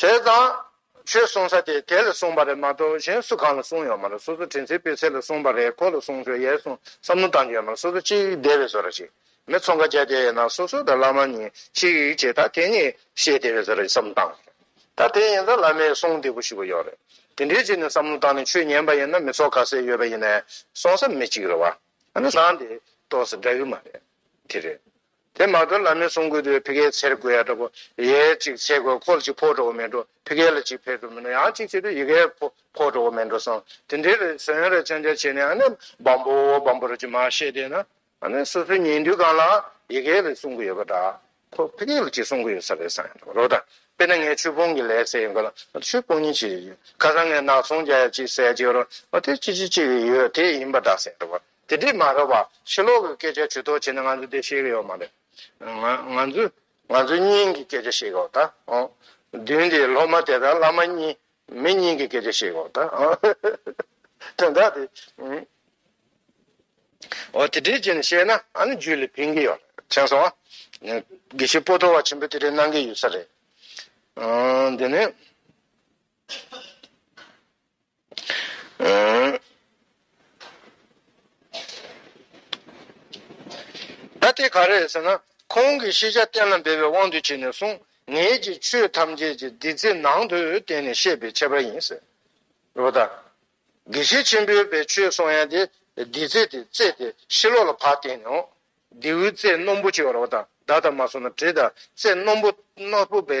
བྱས་ཙང། ཁྱོད་གསུང་ས་དེ་དེ་ལ་གསུངས་པ་རེད་མ་གཏོགས་གཞན་སུ་གང་ལ་གསུངས་ཡོད་མ་རེད་སོ་སོ་དྲིན་ཚེ་སྤོས་ཚེ་ལ་གསུངས་པ་རེད་ཁོ་ལ་གསུངས་ཆོག་ཡས་གསུངས་བསམ་བློ་བཏང་རྒྱུ་ཡོད་མ་རེད་སོ་སོ་གཅིག་སྡེ་བའི་བཟོ་ར་བྱེད་མི་ཚོ་འགའ་བྱས་དེ་ཡས་ན་སོ་སོ་དང་བླ་མ་གཉིས་གཅིག་བྱེད་ད་དེ་གཉིས་བཤད་སྡེ་བའི་བཟོ་ར་བསམ་བཏང་རེད་ད་དེ་ཡིན་ཙང་བླ་མའི་གསུང་བདེ་པོ་ཞུ་གི་ཡོད་རེད་དེ་འདྲའི་ཆེད་ནས་བསམ་བློ་བཏང་ནས་ཆོས་ཉན་པ་ཡིན་ན་མི་ཚོགས་ག་ཚད་ཡོད་པ་ཡིན་ནས་གསུངས་ས་མི་གཅིག་རེད་བ། ཨ་ན་ནང་དེ་གཏོགས་སུ་འདྲ་གི་མ་རེད་དེ་རེད། དེ་མ་ཐོན་ལ་མི་གསུམ་དགོས་དུས་ཕི་ཀའི་ཚེར་དགོས་ཡ་འདྲ་པོ་ཡའི་གཅིག་ཚེ་དགོས་ཁོལ་གཅིག་ཕོག་འགྲོ་གི་མེད་འགྲོ་ཕི་ཀའི་ལ་གཅིག་ཕེར་འགྲོ་མི་འགྲོ་ཡང་གཅིག་བྱེད་དུས་ཡི་ཀའི་ཕོག་ཕོག་འགྲོ་གི་མེད་འགྲོ་སོང་དེ་འདྲའི་རེ་ཟོན་རེ་བཅང་བཅང་བྱས་ནས་ཨ་ནི་སྦམ་པོ་སྦམ་པོ་རེ་ཅིག་མ་བཤད་དེ་ན་ཨ་ནི་སོ་སོའི་ཉིན་དུས་གང་ལ་ཡི་ཀའི་ལ་གསུང་གི་ཡོད་པ་འདྲ་ཁོ་ཕི་ཀའི་ལ་གཅིག་གསུང་གི་ཡོད་ས་རེད་བསམ་ཡ་འདྲ་པོ་རོགས་དང་དཔེར་ན་ངའི་ཆུ་སྤོང་གི་ལས་ཟེར་ཡོད་ག་ལ་ཆུ་སྤོང་ཉིན་གཅིག་ཁ་སང་ངས་ནག་ཚོང་བརྒྱ་ཡ་གཅིག་ཟས་བརྗེ་རོགས་དེ་གཅིག་གཅིག་གཅིག་ཡོད་དེ་ཡིན་པ་འདྲ་ཟེར་ཡ་འདྲ་པོ་དེ་འདྲས་མ་རེད་བ། ཕྱི་ལོག་གི་སྐད་ཆ་ཇུས་གཏོགས་བྱས་ན་ང་ཚོ་དེ་ཤེས་གི་ཡོད་མ་རེད། ང་ཚོ་ང་ཚོའི་སྙིང་གི་སྐད་ཆ་བཤད་གི་འོ་ད་བདུན་དེ་སློབ་མ་དེ་དང་བླ་མ་གཉིས་མི་སྙིང་གི་སྐད་ཆ་བཤད་གི་འོ་ད། དོན་དག་དེ། འོ་དེ་འདྲས་བྱས་ནས་བཤད་ན་ཨ་ནི་ཇུས་ལས་ཕན་གི་ཡོད་རེད་མཁྱེན་སོང་ཨ། དགེ་བཤེས་སྤོ་ཏོ་བ་ཆེན་པོས་དེ་འདྲས་གནང་གི་ཡོད་ས་རེད། འདི་ནས། ད་དེ་ག་རེད་ཟེར་ན། ཁོང་གིས་ཤེས་བྱ་གཏན་ལ་འབེབས་པའི་དབང་དུ་བྱས་ནས་གསུངས། ངེད་ཀྱིས་ཆོས་ཐམས་ཅད་ཀྱི་བདུད་རྩི་ནང་དུ་བསྟན་ནས་བཤད་པའི་ཁྱད་པར་ཡིན་ཟེར། རེད་བ་ད། དགེ་བཤེས་ཆེན་པོས་པའི་ཆོས་གསུང་ཡན་དེ་བདུད་རྩི་དེ་རྩེ་དེ་ཕྱི་ལོགས་ལ་བག་བསྟན་ནས་འོང། རྡེའུའི་རྩེ་སྣུམ་པོ་ཅིག་རེད་བ་ད། བདག་ད་མ་སོང་ན་བྲིས་ད་རྩེ་སྣུམ་པོ་སྣོད་པོ་པའི་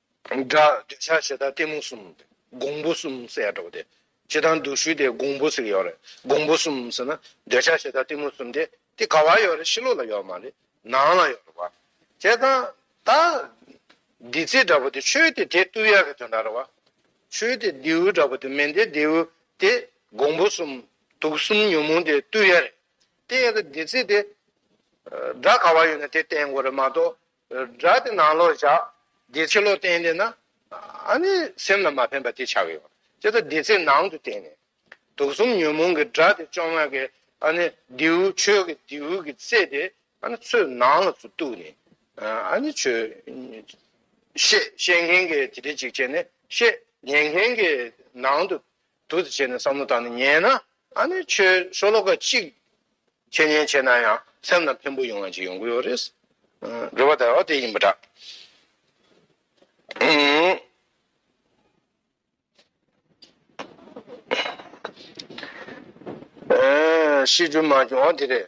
སྒྲ། འདོད་ཆགས་ཞེ་སྡང་གཏི་མུག་གསུམ། འགོང་པོ་གསུམ་གསལ་བྲོ་བ་དེ། ཇི་ལྟར་འདུག་ཞུས་ཏེ་འགོང་པོ་ཟིག་ཡོད་རེད། འགོང་པོ་གསུམ་ཟེར་ན། འདོད་ཆགས་ཞེ་སྡང་གཏི་མུག་གསུམ་དེ། དེ་ག་བར་ཡོད་རེད་ཕྱི་ལོགས་ལ་ཡོད་མ་རེད། ནང་ལ་ཡོད་རེད་བ། དེ་ད། ད། དེ་ཚིག་འདྲ་བོ་དེ་ཆོས་དེ་དེ་ཏུ་ཡག་གི་དོན་དག་རེད་བ། ཆོས་དེ་རྡེའུ་འདྲ་བོ་དེ་མིན་ཏེ་རྡེའུ་དེ། འགོང་པོ་གསུམ། དུག་གསུམ་ཉོན་མོངས་དེ་ཏུ་ཡག་རེད། དེ་ཡག་གི་དེ་ཚིག་དེ། སྒྲ་ག་བར་ཡོད་ན་དེ་བསྟན་དགོས་རེད་མ་གཏོགས། སྒྲ་དེ་ནང་ལོག་བཞག་བདེ་ཚིག་ལོག་བསྟན་དེ་ན་ཨ་ནི་སེམས་ལ་མ་ཕན་པ་དེ་ཆགས་ཡོད། དེ་ལྟར་བདེ་ཚིག་ནང་དུ་བསྟན་ནས་དུག་གསུམ་ཉོན་མོངས་ཀྱི་སྒྲ་དེ་བཅོ་ལྔ་གི་ཨ་ནི་རྡེའུ་ཆོས་ཀྱི་རྡེའུ་གི་རྩེ་དེ་ཨ་ནི་ཚོས་ནང་ལ་ཚུར་གཏུགས་ནས་ཨ་ནི་ཆོས་ཤེས་ཤེས་མཁན་གྱི་དེ་དེ་གཅིག་བྱས་ནས་ཤེས་ཉན་མཁན་གྱི་ནང་དུ་དུ་དུ་བྱས་ནས་བསམ་བློ་བཏང་ནས་ཉན་ན་ཨ་ནི་ཁྱོད་ཤོ་ལོ་ཀ་གཅིག་ཁྱད་ཉན་བྱས་ན་ཡང་སེམས་ལ་ཕན་པོ་ཡོང་བ་ཅིག་ཡོང་གི་ཡོད་རེད། འགྲོ་བ་དལ་བ་དེ་ཡིན་པ་འདྲ། ཤེས་རྒྱུ་མ་བྱུང་བ་དེ་རེད།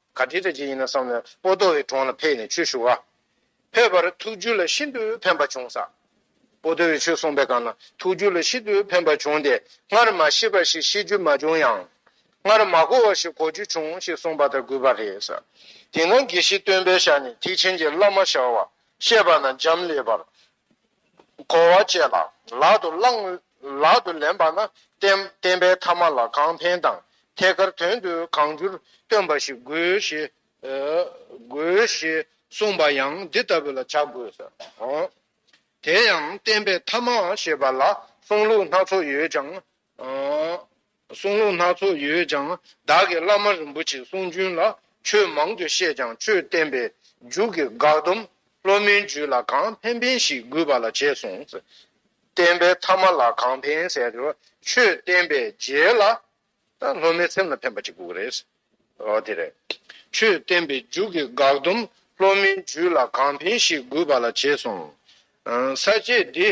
ག་དེ་ལྟ་ཅི་ཡིན་ན་བསམ་ལ་པོ་ཏོ་བའི་དྲུང་ལ་ཕེབས་ནས་ཆོས་ཞུ། ཕེབས་པར་ཐུགས་རྒྱུད་ལ་ཤིན་ཏུ་ཕན་པ་བྱུང། ས་པོ་ཏོ་བའི་ཆོས་གསུངས་པའི་སྒང་ལ་ཐུགས་རྒྱུད་ལ་ཤིན་ཏུ་ཕན་པ་བྱུང་སྟེ་སྔར་མ་ཤེས་པ་ཞིག་ཤེས་རྒྱུ་མ་བྱུང་ཡང། སྔར་མ་གོ་བ་ཞིག་གོ་རྒྱུ་བྱུང་ཞེས་གསུངས་པ་ལྟར་གུས་པ་རེད། དེས་ན་དགེ་བཤེས་སྟོན་པའི་ཞལ་ནས་ཐེག་ཆེན་གྱི་བླ་མ་ཞལ་བ་བཤད་པ་ན་འབྱམས་ཀླས་པར་བསྒོ་བ་བཅས་ལ་ལག་ཏུ་བླང། ལག་ཏུ་ལེན་པ་ན་བསྟན་པའི་ཐ་མ་ལ་གང་ཕན་དང་ཐད་ཀར་དོན་དུ་གང་འགྱུར་སྟོན་པ་ཞིག་དགོས་ཞེས་དགོས་ཞེས་གསུངས་པ་ཡང་འདི་ལྟ་བུ་ལ་བྱ་དགོས་སོ། དེ་ཡང་བསྟན་པའི་ཐ་མ་ཞེས་པ་ལ་གསུང་ལུགས་སྣ་ཚོགས་ཡོད་ཀྱང་གསུང་ལུང་སྣ་ཚོགས་ཡོད་ཀྱང་བདག་གིས་བླ་མ་རིན་པོ་ཆེའི་གསུང་རྒྱུན་ལ་ཆོས་མང་དུ་བཤད་ཀྱང་ཆོས་བསྟན་པའི་མཇུག་གི་དགག་སྡོམ་སློབ་མའི་རྒྱུད་ལ་གང་ཕན་ཕན་ཞིག་དགོས་པ་ལ་བྱས་གསུངས། བསྟན་པའི་ཐ་མ་ལ་གང་ཕན་ཟེར་དེ་ཆོས་བསྟན་པའི་རྗེས་ལ་སློབ་མའི་སེམས་ལ་ཕན་པ་ཅིག་དགོས་ཀྱི་རེད། འོ་དེ་རེད། ཆོས་བསྟན་པའི་མཇུག་གི་དགག་སྡོམ་སློབ་མའི་རྒྱུད་ལ་གང་ཕན་ཞིག་དགོས་པ་ལ་བྱས་གསུངས། ས་བཅད་འདི་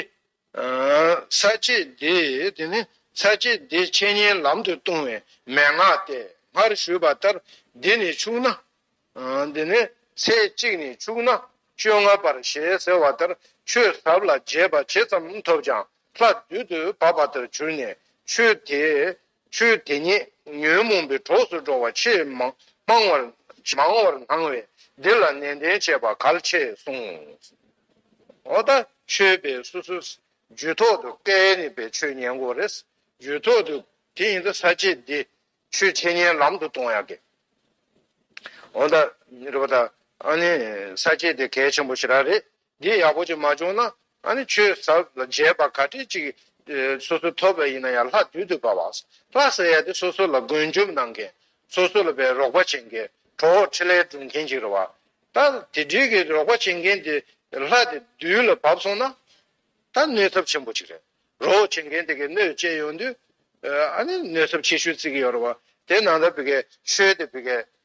ས་བཅད་འདི་དེ་ནི་ས་བཅད་འདི་འཆད་ཉན་ལམ་དུ་ལྟུང་བའི་མན་ངག་སྟེ་སྔར་ཞུས་པ་ལྟར་འདི་ནི་ཕྱུག་ན། དེ་ནས་ཚེས་གཅིག་ནས་ཕྱུག་ན་བཅོ་ལྔ་བར་ཞེས་ཟེར་བ་ལྟར་ཆོས་ཟབ་ལ་རྒྱས་པ་ཇི་ཙམ་ཐོབ་ཀྱང་ལྷ་བདུད་དུ་བབ་པ་ལྟར་གྱུར་ནས་ཆོས་དེའི་ཆོས་དེ་ཉིད་ཉོན་མོངས་པའི་གྲོགས་སུ་འགྲོ་བ་ཆེས་མང་བར་སྣང་བས་འདི་ལ་ནན་ཏན་བྱེད་པ་གལ་ཆེ་གསུངས། འོ་ད་ཆོས་པའི་སོ་སོའི་རྒྱུད་ཐོག་ཏུ་སྐལ་ནི་པའི་ཆོས་ཉན་དགོས་རེད། རྒྱུད་ཐོག་ཏུ་དེ་ཡིན་ད་ས་བཅད་འདི་ཆོས་འཆད་ཉན་ལམ་དུ་གཏོང་ཡག་གི། འོ་ད་ཨ་ནི་ས་བཅད་འདི་གལ་ཆེན་པོ་ཞིག་རག་རེད། འདི་ཡག་པོ་ཅིག་མ་བྱུང་ན་ཨ་ནི་ཆོས་ཟབ་ལ་མཇལ་བ་ག་དྲི་ཅིག་སོ་སོ་ཐོབ་པ་ཡིན་ན་ཡང་ལྷ་བདུད་དུ་བབ་བ། ལྷ་ཟེར་ཡ་དེ་སོ་སོ་ལ་མགོན་འཇོམས་གནང་མཁན་སོ་སོ་ལ་བའི་རོགས་པ་བྱེད་མཁན་གྲོགས་འོག་ཁྲི་ལས་སྒྲུབ་མཁན་ཅིག་རེད་བ། ད་དེ་འདྲིའི་གི་རོགས་པ་བྱེད་མཁན་དེ་ལྷ་དེ་བདུད་ལ་བབ་སོང་ན་ད་གནོད་ཚབ་ཆེན་པོ་ཅིག་རེད། རོགས་འོག་བྱེད་མཁན་དེ་གི་གནོད་བཅས་ཡོང་དུས་ཨ་ནི་གནོད་ཚབ་ཆེ་ཤོས་བརྩི་གི་ཡོད་རེད་བ། དེ་ནང་ད་བི་གའི་ཆོས་དེ་བི་གའི་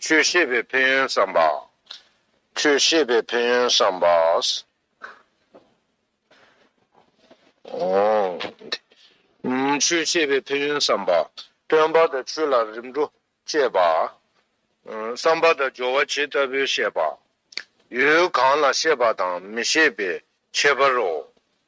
ཆོས་ཤེས་པའི་ཕན་ཡོན་བསམ་པ། ཆོས་ཤེས་པའི་ཕན་ཡོན་བསམ་པ། ཆོས་ཤེས་པའི་ཕན་ཡོན་བསམ་པ། སྟོན་པ་དང་ཆོས་ལ་རིམ་གྲོ་བཅས་པ། བསམ་པ་དང་སྦྱོར་བ་ཇི་ལྟ་བུའི་བཤད་པ། ཡུལ་གང་ལ་ཤེས་པ་དང་མི་ཤེས་པའི་ཁྱད་པར་རོ།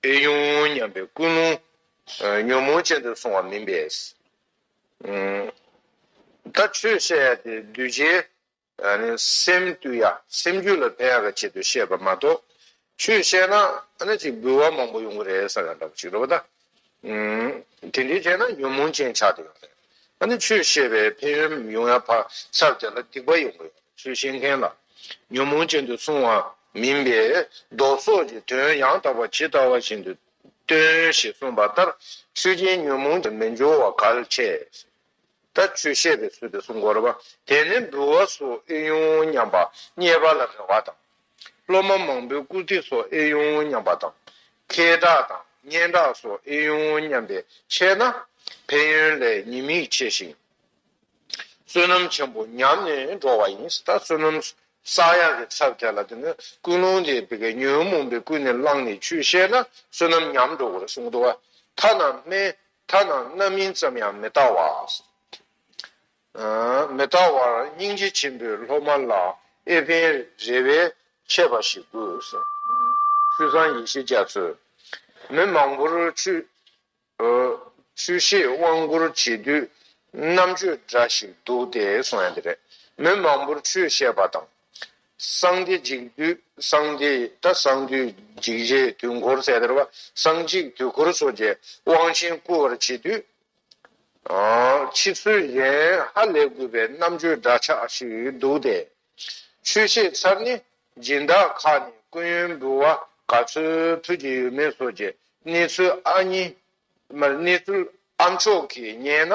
པས་དབྱུང་སྙམ་པའི་ཀུན་སློང་ཉོན་མོངས་ཅན་དུ་སོང་བ་མིན་པས། ད་ཆོས་བཤད་ཡ་དེ་གདུལ་བྱའི་སེམས་བཏུལ་ཡ་སེམས་རྒྱུད་ལ་ཕན་ཡ་ག་ཆེད་དུ་བཤད་པ་མ་གཏོགས། ཆོས་བཤད་ན་ཨ་ན་ཅིག་འབུལ་བ་མང་པོ་ཡོང་གི་རེད་ས་ག་འདྲ་པོ་ཅིག་རེད་པ་ད། དེ་འདྲའི་རྗེས་ན་ཉོན་མོངས་ཅན་ཆགས་ཏེ་ཡོང་ནས། ཨ་ནི་ཆོས་བཤད་པའི་ཕན་ཡོན་མི་ཡོང་ཡ་ཕ་སར་བྱས་ན་སྡིག་པ་ཡོང་གི་ཡོད་ཚུལ་བཤད་མཁན་ལ། ཉོན་མོངས་ཅན་དུ་གསུང་བ་མིན་པས་ལྡོག་སོགས་ཀྱི་དོན་ཡང་དག་པ་ཇི་ལྟ་བ་བཞིན་དུ་སྟོན་ཞེས་གསུངས་པ་ལྟར་ཆོས་ཅན་ཉོན་མོངས་ཅན་མི་འབྱུང་བ་གལ་ཆེ། ད་ཆོས་བཤད་པའི་ཚུལ་དུ་སྲུང་འཁོར་བ་དེ་ནི་འབུལ་བ་སོགས་ཨེ་ཡོང་སྙམ་པ་རྙེད་པ་ལ་རེ་བ་དང། སློབ་མ་མང་པོའི་བཀུར་སྟི་སོགས་ཨེ་ཡོང་སྙམ་པ་དང། ཁེ་གྲགས་དང་སྙན་གྲགས་སོགས་ཨེ་ཡོང་སྙམ་པའི་ཆེད་ན། ཕན་ཡོན་ལས་ཉེས་དམིགས་ཆེ་ཞིང། བསོད་ནམས་ཆེན་པོ་ཉམས་ནས་འགྲོ་བ་ཡིན། ད་བསོད་ནམས་བསགས་ཡག་གི་ཚབ་དེ་ལ་དེ་ནི་ཀུན་སློང་དེ་དེ་གའི་ཉོན་མོངས་པའི་ཀུན་ནས་བསླངས་ནས་ཆོས་བཤད་ན་བསོད་ནམས་ཉམས་འགྲོ་བར་གསུངས། དོ་བ་ཐ་ན་སྨན་ཐ་ན་རྣམ་སྨིན་ཙམ་ཡང་མི་བལྟ་བར། མི་བལྟ་བར་སྙིང་རྗེ་ཆེན་པོའི་སློབ་མ་ལ་ཨེ་ཕན་རེ་བའི་ཆད་པ་ཞིག་དགོས། ཆུ་སྲང་ཡེ་ཤེས་རྒྱ་མཚོས། མི་མང་པོར་ཆུ་ཤེས་དབང་བསྐུར་བྱེད་དུས་རྣམ་དཔྱོད་འདྲ་ཞིག་འདུག་སྟེ་གསུངས། མི་མང་པོར་ཆུ་བཤད་པ་དང། སངས་རྒྱས་འཇིག་དུས་སངས་རྒྱས་ད་སངས་དུས་འཇིག་བྱེད་དུས་འཁོར་ཚད་དར་བ་སངས་འཇིག་དུས་འཁོར་སོ་བརྒྱད་དབང་ཆེན་བསྐུལ་བར་བྱེད་དུས། ཕྱི་ཚུལ་གཞན་ཧ་ལས་དགོས་པའི་རྣམ་དཔྱོད་འདྲ་ཆགས་ཤིག་འདུག་སྟེ། ཆོས་བཤད་ཚར་ནས་སྦྱིན་བདག་ཁག་ནས་ཀུན་ཡོན་འབུལ་བ་ག་ཚོད་ཕུལ་གྱི་ཡོད་མེད་སོགས་ཀྱི་གནས་ཚུལ་ཨ་མཆོག་གིས་རྙེད་ན་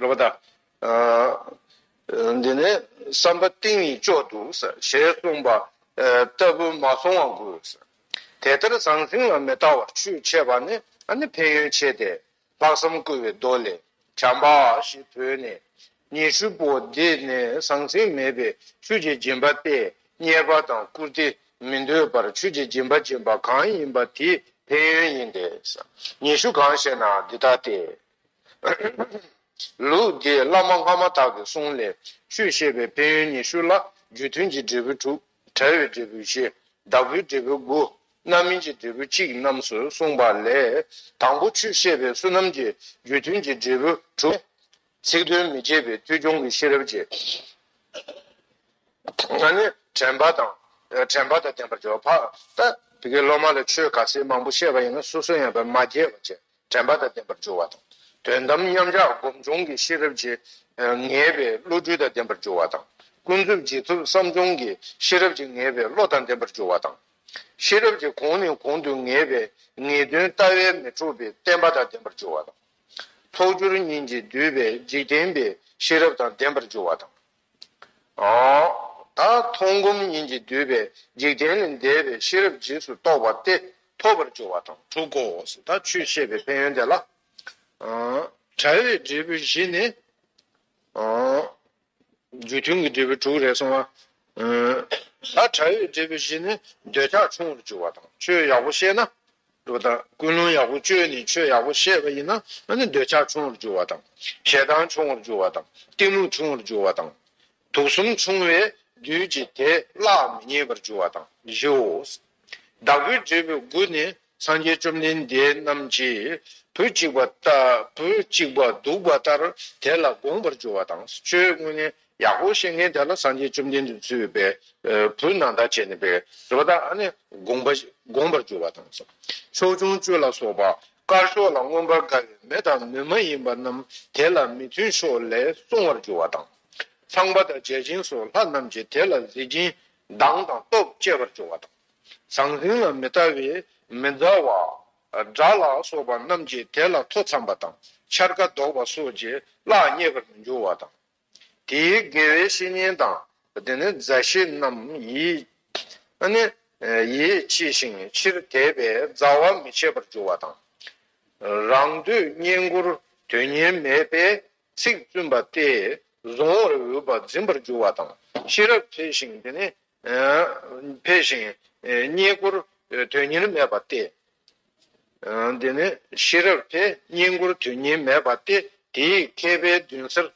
རེ་བ་དང། འདི་ནས་བསམ་པ་གཏིང་ནས་ལྕོགས་འདུག་ཞེས་གསུངས་པ་ལྟ་བུ་མ་སོང་བ་དགོས། དེ་ལྟར་ཟང་ཟིང་ལ་མི་ལྟ་བར་ཆོས་འཆད་པ་ནི་ཕན་ཡོན་ཆེ་སྟེ། ལྷག་བསམ་བསྐུལ་བའི་མདོ་ལས། བྱམས་པ་ཞེས་བོས་ནས། ཉི་ཧྲུལ་པོ་འདི་ནི་ཟང་ཟིང་མེད་པའི་ཆོས་ཀྱི་སྦྱིན་པ་སྟེ་གཉེར་པ་དང་བཀུར་སྟི་མི་འདོད་པར་ཆོས་ཀྱི་སྦྱིན་པ་སྦྱིན་པ་གང་ཡིན་པ་དེའི་ཕན་ཡོན་ཡིན་ཏེ། ཉི་ཤུ་གང་ཞེ་ན་འདི་ལྟ་སྟེ། ལུགས་འདིས་བླ་མ་སྔ་མ་དག་གི་གསུང་ལས་ཆོས་བཤད་པའི་ཕན་ཡོན་ཉི་ཤུ་ལ་རྒྱུ་མཐུན་གྱི་འབྲས་བུ་དྲུག་བྲལ་བའི་འབྲས་བུ་བཞི་བདག་པོའི་འབྲས་བུ་དགུ་རྣམ་སྨིན་གྱི་འབྲས་བུ་གཅིག་རྣམས་སུ་གསུངས་པ་ལས་དང་པོ་ཆོས་བཤད་པའི་བསོད་ནམས་ཀྱི་རྒྱུ་མཐུན་གྱི་འབྲས་བུ་དྲུག་སྟེ། ཚིག་དོན་མི་བརྗེད་པའི་ཐོས་སྐྱོང་གི་ཤེས་རབ་ཀྱིས་ནི་དྲན་པ་དང་དྲན་པ་དང་ལྡན་པར་བྱའོ། འཕགས་པ། དེ་སློབ་མ་ལ་ཆོས་ག་ཚད་མང་པོ་བཤད་པ་ཡིན་ན་སོ་སོ་ཡང་བར་མ་རྒྱས་པར་བྱས་དྲན་པ་དང་ལྡན་པར་འགྱུར་བ་དང། དོན་དམ་མཉམ་གཞག་སྒོམ་བྱུང་གི་ཤེས་རབ་ཀྱིས་ངེས་པའི་བློ་སྦྲུལ་དང་ལྡན་པར་འགྱུར་བ་དང། ཀུན་རྫོབ་རྗེས་ཐོབ་བསམ་བྱུང་གི་ཤེས་རབ་ཀྱིས་ངེས་པའི་བློ་དང་ལྡན་པར་འགྱུར་བ་དང། ཤེས་རབ་ཀྱི་གོང་ནས་གོང་དུ་ངེས་པའི་ངེས་དོན་ལྟ་བས་མི་འཕྲོགས་པའི་བརྟན་པ་དང་ལྡན་པར་འགྱུར་བ་དང། ཚོགས་སྦྱོར་གཉིས་ཀྱིས་བསྡུས་པའི་འཇིག་རྟེན་པའི་ཤེས་རབ་དང་ལྡན་པར་འགྱུར་བ་དང། དག་མཐོང་སྒོམ་གཉིས་ཀྱིས་བསྡུས་པའི་འཇིག་རྟེན་ལས་འདས་པའི་ཤེས་རབ་འཇིགས་སུ་རྟོག་པ་སྟེ་ཐོབ་པར་འགྱུར་བ་དང་དྲུག་གོ། དག་ཆོས་ཤེས་པའི་ཕན་ཡོན་དེ་ལ་བྲལ་བའི་འབྲས་བུ་བཞི་ནི། རྒྱུ་མཐུན་གྱི་འབྲས་བུ་དྲུག་རེ་གསུངས། དག་བྲལ་བའི་འབྲས་བུ་བཞི་ནི་འདོད་ཆགས་ཆུང་བར་འགྱུར་བ་དང་ཆོས་ཡག་པོ་ཤེས་ན། འགྲོ་དང་ཀུན་སློང་ཡག་པོ་བཅོས་ནས་ཆོས་ཡག་པོ་ཤེས་པ་ཡིན་ན་ང་ནི་འདོད་ཆགས་ཆུང་བར་འགྱུར་བ་དང། ཞེ་སྡང་ཆུང་བར་འགྱུར་བ་དང་གཏི་མུག་ཆུང་བར་འགྱུར་བ་དང། དུག་གསུམ་ཆུང་བས་བདུད་ཀྱི་དེ་བླག་མི་རྙེད་པར་འགྱུར་བ་དང་བཞིའོ། བདག་པོའི་འབྲས་བུ་དགུ་ནི་སངས་རྒྱས་བཅོམ་ལྡན་འདས་རྣམས་ཀྱིས་བུ་གཅིག་པ་ལྟར་བུ་གཅིག་པ་འདུག་པ་ལྟར་དེ་ལ་དགོངས་པར་འགྱུར་བ་དང་བཅོས་དངོས་ནི་ཡག་པོ་བཤད་མཁན་དེ་ལ་སངས་རྒྱས་བཅོམ་ལྡན་འདས་ཚུལ་བས་བུ་ནང་ལྟར་བྱས་ནས་པའི་རི་བ་དག་ནི་དགོངས་པ་དགོངས་པར་གྱུར་པ་དང། ཕྱོགས་སྐྱོང་བཅུ་ལ་སོགས་པ་དཀར་ཕྱོགས་ལ་མངོན་པར་དགའ་བའི་མི་དང་མི་མ་ཡིན་པ་རྣམས་དེ་ལ་མི་མཐུན་ཕྱོགས་ལས་སོང་བར་གྱུར་བ་དང། ཚངས་པ་དང་བརྒྱ་བྱིན་སོགས་ལྷ་རྣམས་ཀྱིས་དེ་ལ་གཟི་བྱིན་མདངས་དང་སྟོབས་བསྐྱེད་པར་གྱུར་བ་དང། ཟང་ཟིང་ལ་མི་ལྟ་བའི་མི་མཛའ་བ། དགྲ་ལ་སོགས་པ་རྣམས་ཀྱིས་དེ་ལ་མཐོ་འཚམས་པ་དང་འཕྱར་ཀ་བཟློག་པ་སོགས་ཀྱིས་གླགས་རྙེད་པར་མི་འགྱུར་བ་དང། དེའི་དགེ་བའི་བཤེས་གཉེན་དང། དེ་ནི་མཛའ་བཤེས་རྣམས་ཡིན། ནི། ཡིད་ཆེས་ཤིང་ཕྱིར་དེད་པས་མཛའ་བ་མི་བྱེད་པར་འགྱུར་བ་དང། རང་འདོད་བསྙེན་བཀུར་དོན་སྙིང་མེད་པས་ཚིག་བཙུན་པ་སྟེ། གཟུང་བར་འོས་པ་འཛིན་པར་འགྱུར་བ་དང། ཤེས་རབ་འཕེལ་ཞིང་དེ་ནི་འཕེལ་ཞིང། རྙེད་བཀུར་དོན་གཉེར་མེད་པ་སྟེ། འདི་ནི་ཤེས་རབ་འཕེལ་རྙེད་བཀུར་དོན་གཉེར་མེད་པ་སྟེ་དེའི་མཁས་པའི་མདུན་སར་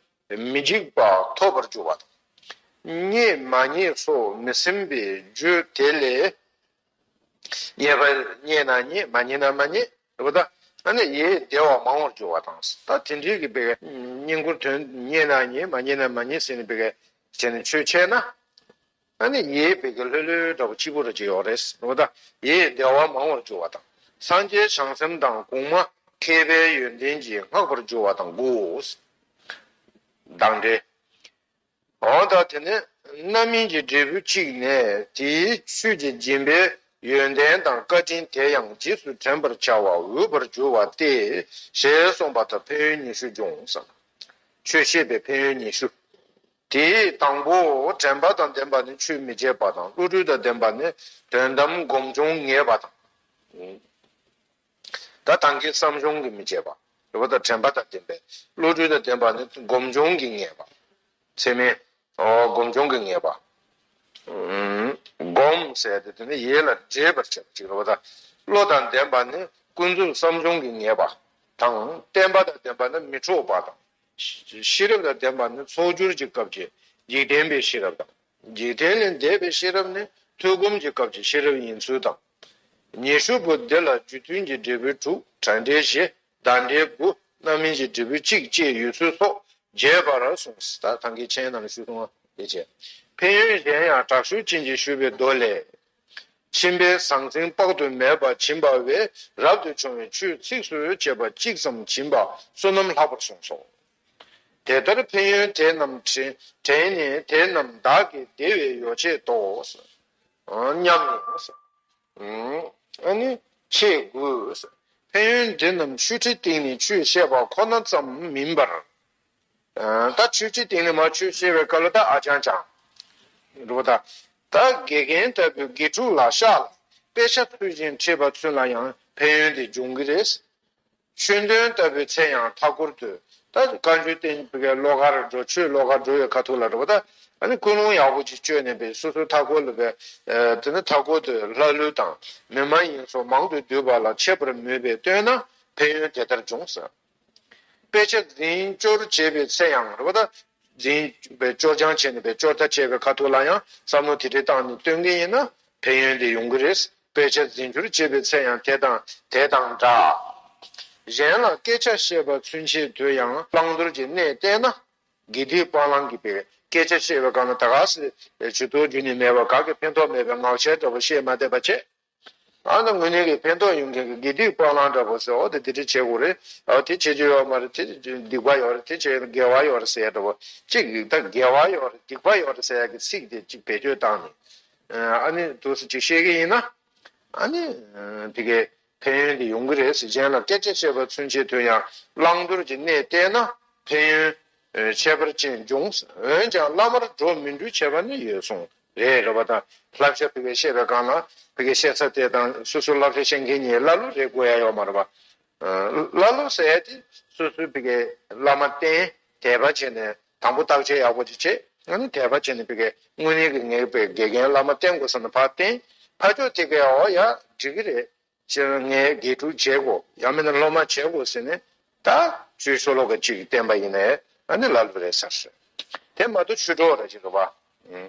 མི་འཇིགས་པ་ཐོབ་པར་འགྱུར་བ་དང། རྙེད་མ་རྙེད་སོགས་མི་སེམས་པའི་རྒྱུ་དེ་ལས་རྙེད་པ་རྙེད་ན་རྙེད་མ་རྙེད་ན་མ་རྙེད། ཞེས་པ་ལྟར་ན་ཡིད་བདེ་བ་མང་བར་འགྱུར་བ་དང། ད་དེ་འདྲའི་གི་བསྙེན་བཀུར་དོན་རྙེད་ན་རྙེད་མ་རྙེད་ན་མ་རྙེད་ཟེར་ནས་བྱས་ནས་ཆོས་འཆད་ན། ད་ནི་ཡིད་བདེ་གི་ལྷོད་ལྷོད་འདྲ་བོ་གཅིག་པུ་རེ་ཅིག་ཡོད་རེད་ཟེར་བ་ལྟར་ཡིད་བདེ་བ་མང་བར་འགྱུར་བ་དང། སངས་རྒྱས་བྱང་སེམས་དང་གོང་མ་མཁས་པའི་ཡོན་ཏན་གྱིས་བསྔགས་པར་འགྱུར་བ་དང་དགུ། བདག་འདྲའི། གང་ལྟར་དེ་ནི་རྣམ་སྨིན་གྱི་འབྲས་བུ་གཅིག་ནས་དེའི་ཆོས་ཀྱི་སྦྱིན་པའི་ཡོན་ཏན་དང་བཀའ་དྲིན་དེ་ཡང་རྗེས་སུ་དྲན་པར་བྱ་བ་འོས་པར་འགྱུར་བ་སྟེ་ཞེས་གསུངས་པ་དང་ཕན་ཡོན་ཉི་ཤུ་འབྱུང་ཟིན། ཆོས་ཤེས་པའི་ཕན་ཡོན་ཉི་ཤུ། དེའི་དང་པོ་དྲན་པ་དང་ལྡན་པ་ནི་ཆོས་མི་བརྗེད་པ་དང་བློ་གྲོས་དང་ལྡན་པ་ནི་དོན་དམ་སྒོམ་བྱུང་ངེས་པ་དང། ད་དང་གི་བསམ་བྱུང་གི་མི་བརྗེད་པ། རེ་བ་དང་དྲན་པ་དང་ལྡན་པའི་བློ་གྲོས་དང་ལྡན་པ་ནི་སྒོམ་བྱུང་གི་ངེས་པ། ཚད་མའི། སྒོམ་བྱུང་གི་ངེས་པ། བསྒོམ་བྱའི་དེ་ནི་ཡིད་ལ་འདྲེས་པར་བྱེད་པ་གཅིག་རེ་བ་དང། བློ་དང་ལྡན་པ་ནི་ཀུན་རྫོབ་བསམ་བྱུང་གི་ངེས་པ་དང། བརྟན་པ་དང་ལྡན་པ་ནི་མི་འཕྲོགས་པ་དང། ཤེས་རབ་དང་ལྡན་པ་ནི་ཚོགས་སྦྱོར་གྱི་སྐབས་ཀྱི་འཇིག་རྟེན་པའི་ཤེས་རབ་དང། འཇིག་རྟེན་ལས་འདས་པའི་ཤེས་རབ་ནི་ཐོས་སྒོམ་གྱི་སྐབས་ཀྱི་ཤེས་རབ་ཡིན་ཚུལ་དང། ཉི་ཧྲུལ་པོ་འདི་ལ་རྒྱུ་མཐུན་གྱི་འབྲས་བུ་དྲུག་བྲག་འབྲས་བཞི་བདག་འབྲས་དགུ་རྣམ་སྨིན་གྱི་འབྲས་བུ་གཅིག་བཅས་ཡོད་ཚུལ་སོགས་རྒྱས་པར་གསུངས། ད་གང་གི་མཆན་རྣམས་ཞུས་སོང་བ་དེ་བྱས། ཕན་ཡོན་གཞན་ཡང་དྲག་ཤུལ་ཅན་གྱིས་ཞུས་པའི་མདོ་ལས། མཆིན་པའི་ཟང་ཟིང་དཔག་ཏུ་མེད་པ་བྱིན་པ་བས་རབ་ཏུ་བྱུང་བའི་ཆུ་ཚིགས་སུ་བཅད་པ་གཅིག་ཙམ་བྱིན་པ་བསོད་ནམས་ལྷག་པར་གསུངས་སོ། དེ་ལྟར་ཕན་ཡོན་དེ་རྣམས་དྲན་ནས་དེ་རྣམས་བདག་གི་བདེ་བའི་ཡོ་བྱད་དོ། སྙམ་ནས། ཆེས་དགོས། ཕན་ཡོན་འདི་རྣམས་ཆོས་ཁྲིད་སྟེང་ནས་ཆོས་བཤད་པ་ཁོ་ན་ཙམ་མིན་པར། ད་ཆོས་ཁྲིད་སྟེང་ནས་མ་ཆོས་བཤད་པའི་སྐབས་ལ་ད་ཨ་ཅང་ཅང། ལོ་ད། ད་དགེ་རྒན་ལྟ་བུའི་དགེ་ཕྲུག་ལ་ཤག་ལ་དཔེ་ཆ་ཚུལ་བཞིན་ཁྲིད་པ་ཚུན་ལ་ཡང་ཕན་ཡོན་དེ་འབྱུང་གི་རེད། ཆོས་འདོན་ལྟ་བུའི་ཚེ་ཡང་མཐའ་སྐོར་དུ། ད་བཀའ་འགྱུར་བསྟན་པའི་བློ་ཁར་འགྲོ་ཆོས་བློ་ཁར་འགྲོ་བའི་ཁ་ཐུག་ལ་འགྲོ་བ་དང། ཨ་ནི་ཀུན་སློང་ཡག་པོ་ཅིག་བཅོས་ནས་པས་སོ་སོའི་མཐའ་སྐོར་ལ་བས། དེ་ནི་མཐའ་སྐོར་དུ་ལྷ་ཀླུ་དང། མི་མ་ཡིན་སོགས་མང་དུ་འདུས་པ་ལ་འཆད་པར་མོས་པས་བཏོན་ན་ཕན་ཡོན་དེ་ལྟར་འབྱུང། དཔེ་ཆ་འཛིན་སྐྱོར་བྱེད་པའི་ཚེ་ཡང་རེ་བ་དང། འཛིན་སྐྱོར་སྦྱང་བྱས་ནས་པས་སྐྱོར་ཐབས་སྤྱད་པའི་ཁ་ཐུག་ལ་ཡང་བསམ་བློ་དེ་འདྲའི་བཏང་ནས་བཏོན་གྱི་ཡིན་ན་ཕན་ཡོན་དེ་ཡོང་གི་རེད། དཔེ་ཆ་འཛིན་རྒྱུར་བྱེད་པའི་ཚེ་ཡང་དེ་དང་དེ་དང་འདྲ། གཞན་ལ་སྐད་ཆ་བཤད་པ་ཚུན་ཆད་དུ་ཡང་བླང་དོར་གྱི་གནས་བསྟན་ན། དགེ་སྡིག་སྤང་བླང་གི་བའི་སྐད་ཆ་བཤད་པའི་སྒང་ལ་ད་ག་ཟེ་ཇུ་དོ་རྒྱུ་ནི་མེད་པར་ག་གི་ཕན་ཐོགས་མེད་པའི་ངག་འཆལ་འདྲ་པོ་བཤད་མ་བསྡད་པ་བྱས་ཨ་ན་དངོས་གནས་ཀྱི་ཕན་ཐོགས་ཡོང་མཁན་གྱི་དགེ་སྡིག་སྤང་བླང་འདྲ་པོ་ཟེར་འོ་དེ་དེ་འདྲ་བྱེད་དགོས་རེད་ཨོ་དེ་བྱེད་རྒྱུ་ཡོད་མ་རེད་དེ་སྡིག་པ་ཡོད་རེད་དེ་བྱེད་དགེ་བ་ཡོད་རེད་ཟེར་ཡ་འདྲ་པོ་གཅིག་ཡིག་ཐ་དགེ་བ་ཡོད་རེད་སྡིག་པ་ཡོད་རེད་ཟེར་ཡ་གི་ཚིག་དེ་གཅིག་བེད་སྤྱོད་བཏང་ནས་ཨཱ་ནི། དུ་ཞིག་བཤད་ཀྱི་ཡིན་ན། ཨཱ་ནི། དེ་གའི་ཕན་ཡོན་དེ་ཡོང་གི་རེད་ཟེར་མཁན་ལ་སྐད་ཆ་བཤད་པར་མཚོན་བྱེད་དོན་ཡང་བླང་དོར་གྱི་གནས་བལྟས་ན་ཕན་ཡོན། ཁྱད་པར་ཅན་འབྱུང། འོན་ཀྱང་བླ་མར་འགྲོ་མི་འགྲོ་བྱེད་པ་ནི་ཡོད་གསུངས་རེད་རེད་པ་དང། བསླབ་བྱ་བོད་པའི་བཤད་པའི་སྒང་ལ་བོད་ཀྱི་བཤད་ཚ་དེ་དང་སོ་སོའི་བསླབ་བྱ་བཤད་མཁན་གཉིས་ཀླ་ཀློ་རེད་དགོས་ཡ་ཡོད་མ་རེད་པ། ཀླ་ཀློ་ཟེར་ཡ་དེ་སོ་སོའི་བོད་ཀྱི་བླ་མ་བསྟེན་དད་པ་བྱས་ནས་དང་པོ་བརྟག་དཔྱད་ཡག་པོ་དེ་བྱེད་ང་ནི་དད་པ་བྱེད་ནི་ཕི་གའི་དངོས་གནས་ཀྱི་ངེས་པའི་དགེ་རྒན་བླ་མ་བསྟེན་དགོས་བསམ་ནས་ཕར་བསྟེན་ཕར་ཕྱོགས་དེ་གའི་འོ་ཡག་འགྲིག་གི་རེད་ཕྱི་རོལ་ངས་དགེ་ཕྲུག་བྱེད་དགོ་ཡང་མིན་ན་སློབ་མ་བྱེད་དགོ་ཟེར་ནས་ད་ཆུའི་ཤོ་ལོ་ཀ་གཅིག་བསྟེན་པ་ཡིན་ནས་ང་ནི་ལ་ལུ་རེད་ཟེར་སྲོད་དེ་མ་གཏོགས་ཆུ་གྲོགས་ར་གཅིག་རེད་བ།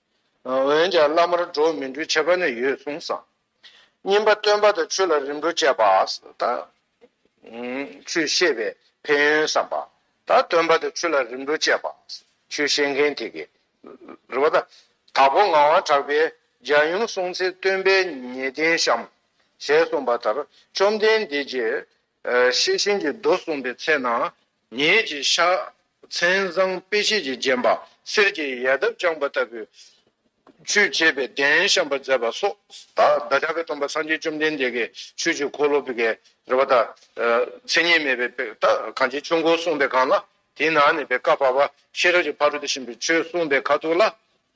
འོན་ཀྱང་བླ་མར་འགྲོ་མི་འགྲོའི་ཁྱད་པར་ནི་ཡོད་གསུངས་སམ། བསྙེན་པ་སྟོན་པ་དང་ཆོས་ལ་རིམ་གྲོ་བཅས་པ་དང། ཆོས་ཤེས་པའི་ཕན་ཡོན་བསམ་པ་དང་སྟོན་པ་དང་ཆོས་ལ་རིམ་གྲོ་བཅས་པ། ཆོས་ཤེས་མཁན་དེ་གའི། རེ་བ་དང། དྭགས་པོ་ངག་དབང་གྲགས་པས་རྒྱ་ཡུམ་གསུང་ཚེ་སྟོན་པས་ཉེས་ལྡན་བཤམ། ཞེས་གསུངས་པ་ལྟར་བཅོམ་ལྡན་འདས་ཀྱིས་ཤེས་བཞིན་གྱི་རྡོ་གསུངས་པའི་ཚེ་ན། ཉིད་ཀྱི་ཕྱག་མཚན་བཟང་དཔེ་ཤེས་ཀྱིས་བརྒྱན་པ་གསེར་གྱི་ཡལ་འདབ་དཔྱངས་པ་ལྟ་བུའི། ཆུས་བྱས་པའི་གདན་བཤམས་པ་མཛད་པ་སོགས་བདག་ཅག་གི་སྟོང་པ་སངས་རྒྱས་བཅོམ་ལྡན་འདས་ཀྱི་ཆོས་ཀྱི་འཁོར་ལོ་བགེགས་རལ་པ་དང། མཚན་ཉིད་མེད་པའི་བགེགས་དག་གང་ཆེ་ཆུང་སྒོ་སྲུང་པའི་གང་ལ། དེའི་ནང་ནས་བའི་བཀའ་བར་པ་ཤེས་རབ་ཀྱི་ཕ་རོལ་ཏུ་ཕྱིན་པའི་ཆོས་གསུངས་པའི་ཁ་ཐུག་ལ།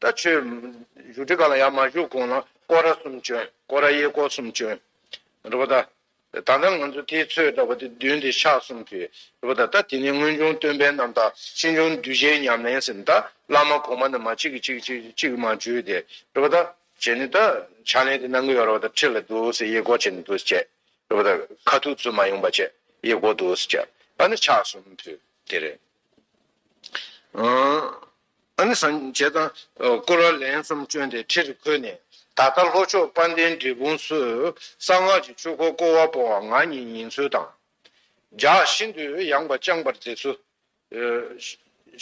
ད་ཆོས། བཞུགས་ཁྲི་ག་ལ་ཡར་མ་བཞུགས་གོང་ལ་ཀོ་ར་གསུམ་བྱོན། ཀོ་ར་གཡས་སྐོར་གསུམ་བྱོན། རེད་པ་ད། ད་ལྟ་ང་ཚོ་དེའི་ཚོས་འདྲ་བ་དེ་བདུན་དེ་ཤག་གསུམ་གྱིས། རེད་པ་ད་ད་དེ་ནས་སྔོན་བྱུང་སྟོན་པའི་རྣམ་དག་ཕྱིས་འབྱུང་གདུལ་བྱའི་ཉམས་ལེན་ཟིན་ད་བླ་མ་གོང་མ་རྣམས་མ་གཅིག་གིས་གཅིག་གཅིག་གཅིག་མ་བརྗོད་དེ། རེད་པ་ད། བྱས་ནས་ད། ཕྱག་ལེན་དེ་གནང་གི་ཡོད་རེད་པ་ད་ཁྲི་ལ་འདུག་ཟེར་གཡས་སྐོར་བྱས་ནས་འདུག་ཟེར་བྱས། རེད་པ་ད། ཁ་ཐུག་ཚུལ་མ་ཡོང་པ་བྱས་གཡས་སྐོར་འདུག་ཟེར་བྱས། ཨ་ནི་ཕྱག་གསུམ་ཕུལ། དེ་རེད། ཨ་ནི་སངས་རྒྱས་དང་སྐུ་ལ་ལན་གསུམ་བསྐྱོན་ཏེ་ཁྲི་རུ་འཁོད་ནས་ད་ལྟ་ལྷོ་ཕྱོགས་དཔལ་ལྡན་འབྲས་སྤུངས་སུ་གསང་སྔགས་ཀྱི་ཆོས་འཁོར་བསྐོར་བ་སྤོ་བ་ང་ཉིད་ཉིན་ཚུལ་དང་སྦྱར་ཤིན་ཏུ་ཡངས་པ་བསྐྱངས་པར་མཛད། སུ་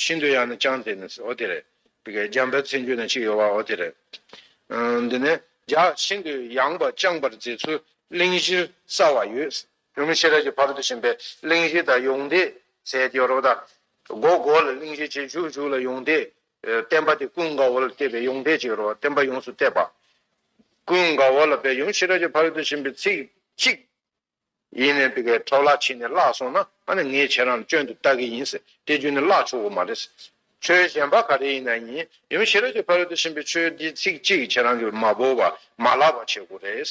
ཤིན་ཏུ་ཡངས་ན་བསྐྱངས་ཏེ་ནི་ཨོ་དེ་རེད། འཇམ་དཔལ་ཚེ་འགྱུར་ན་གཅིག་ཡོད་པ་ཨོ་དེ་རེད། འདི་ནས་སྦྱར་ཤིན་ཏུ་ཡངས་པ་བསྐྱངས་པར་མཛད་ཚུལ་གླིང་བཞིར་གསལ་བར་ཡོད། ཡུམ་ཤེས་རབ་ཀྱི་བར་དུ་ཕྱིན་པས་གླིང་བཞི་དང་ཡོངས་འདས་ཟད་དེ་རོ། དགོད་བསྐོར་ལ་གླིང་བཞི་རྗེས་འཇུག་འཇུག་ལ་ཡོངས་འདས། བསྟན་པ་དེ་ཀུན་དགའ་བོ་ལ་གཏད་པས་ཡོངས་འདས་གཅིག་རོ། བསྟན་པ་ཡོངས་སུ་གཏད་པ། ཀུན་དགའ་བོ་ལ་པའི་ཡུམ་ཤེས་རབ་ཀྱི་བར་དུ་ཕྱིན་པའི་ཚིག་གཅིག། ཡིན་ནས་འདི་གའི་འཕྲོ་བརླག་ཕྱིན་ནས་བརླག་སོང་ན་ཨ་ནི་ངས་ཁྱེད་རང་ལ་སྐྱོན་དུ་བལྟ་གི་ཡིན། དེ་རྒྱུ་ནི་བརླག་ཆོག་གི་མ་རེད། ཆོས་གཞན་པ་ག་རེ་ཡིན་ན་ཡིན་ཡུམ་ཤེས་རབ་ཀྱི་བར་དུ་ཕྱིན་པའི་ཆོས་འདི་ཚིག་གཅིག་ཁྱེད་རང་གིས་མ་བོར་བ་མ་བརླག་པ་བྱེད་དགོས་རེད།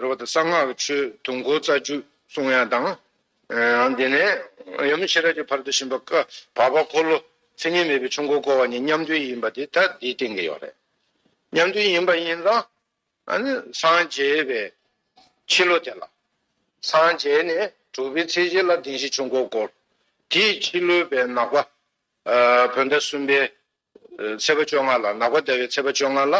རོལ་པ་དང་གསང་སྔགས་ཀྱི་ཆོས་དུང་སྒོ་རྩ་བཅུ་གསུང་དབྱངས་དང། དེ་ནས་ཡབ་ཡུམ་ཤེས་རབ་ཀྱི་བར་དུ་བྱིན་པ་བཀའ་བར་པ་འཁོར་ལོ་མཚན་ཉིད་མེད་པའི་ཆུ་མགོ་བསྐོར་བ་ནི་མཉམ་འདུལ་ཡིན་པ་དེ་ལྟར་དེའི་སྟེང་གི་ཡོག་རེད། མཉམ་འདུལ་ཡིན་པ་ཡིན་ཙང་སངས་རྒྱས་པའི་ཕྱི་ལོ་དེ་ལ་སངས་རྒྱས་ནས་གྲུབ་པའི་ཚེས་བརྒྱད་ལ་གདིང་བཞི་ཆུ་མགོ་བསྐོར་དེའི་ཕྱི་ལོའི་བའི་ནག་པ་བོད་ཟླ་གསུམ་པའི་ཚེས་པ་བཅོ་ལྔ་ལ་ནག་པ་ཟླ་བའི་ཚེས་པ་བཅོ་ལྔ་ལ་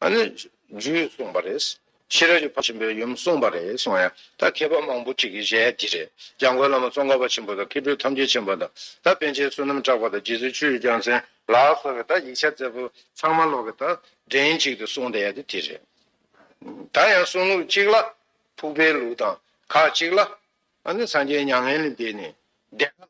རྒྱུད་གསུངས་པ་རེད། ཕྱི་རབས་ཀྱི་བར་ཆེན་པོའི་ཡུམ་གསུངས་པ་རེད་གསུངས་ཡ། ད་མཁས་པ་མང་པོ་ཁྲིད་ཀྱི་གཞས་འདི་རེད། འཇམ་མགོན་བླ་མ་ཙོང་ཁ་པ་ཆེན་པོ་དང་མཁས་གྲུབ་ཐམས་ཅད་ཆེན་པོ་དང་ད་པན་ཆེན་བསོད་ནམས་གྲགས་པ་དང་རྗེ་བཙུན་ཆོས་རྒྱལ་མཚན་ལགས་སོགས་ཀྱི་ད་ཡིག་ཆ་མཛད་པོ་ཚང་མ་ལོག་གི་ད་འདྲེན་གཅིག་ཏུ་གསུངས་བསྡད་ཡ་དེ་དེ་རེད། ད་ཡང་གསུང་ལུགས་གཅིག་ལ་ཕུག་པའི་ལུགས་དང་ཁ་གཅིག་ལ། སངས་རྒྱས་མྱ་ངན་ལས་འདས་ནས་བདེ་དགའ་ལ་ཁ།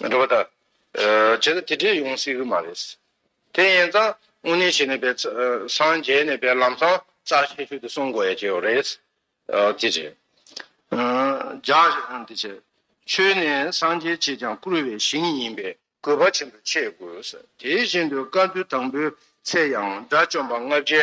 འགྲོ་བ་དང། བྱས་ན་དེ་འདྲས་ཡོང་སྲིད་ཀྱི་མ་རེད། དེ་ཡན་ཙང་དངོས་གནས་བྱས་ནས་བས་སངས་རྒྱས་ནས་བས་ལམ་སང་རྩ་ཆེ་ཤོས་དེ་སྲུང་དགོས་ཡ་གྱི་ཡོད་རེད། དེ་རེད། འཇགས་འདི་བྱས། ཆོས་ནི་སངས་རྒྱས་བྱས་ཀྱང་བཀུར་བའི་ཞིང་ཡིན་པས་གུས་པ་ཆེན་པོས་འཆད་དགོས། དེ་བཞིན་དུ་བཀའ་བསྡུ་དང་པོའི་ཚེ་ཡང་དགྲ་བཅོམ་པ་ལྔ་བརྒྱའི་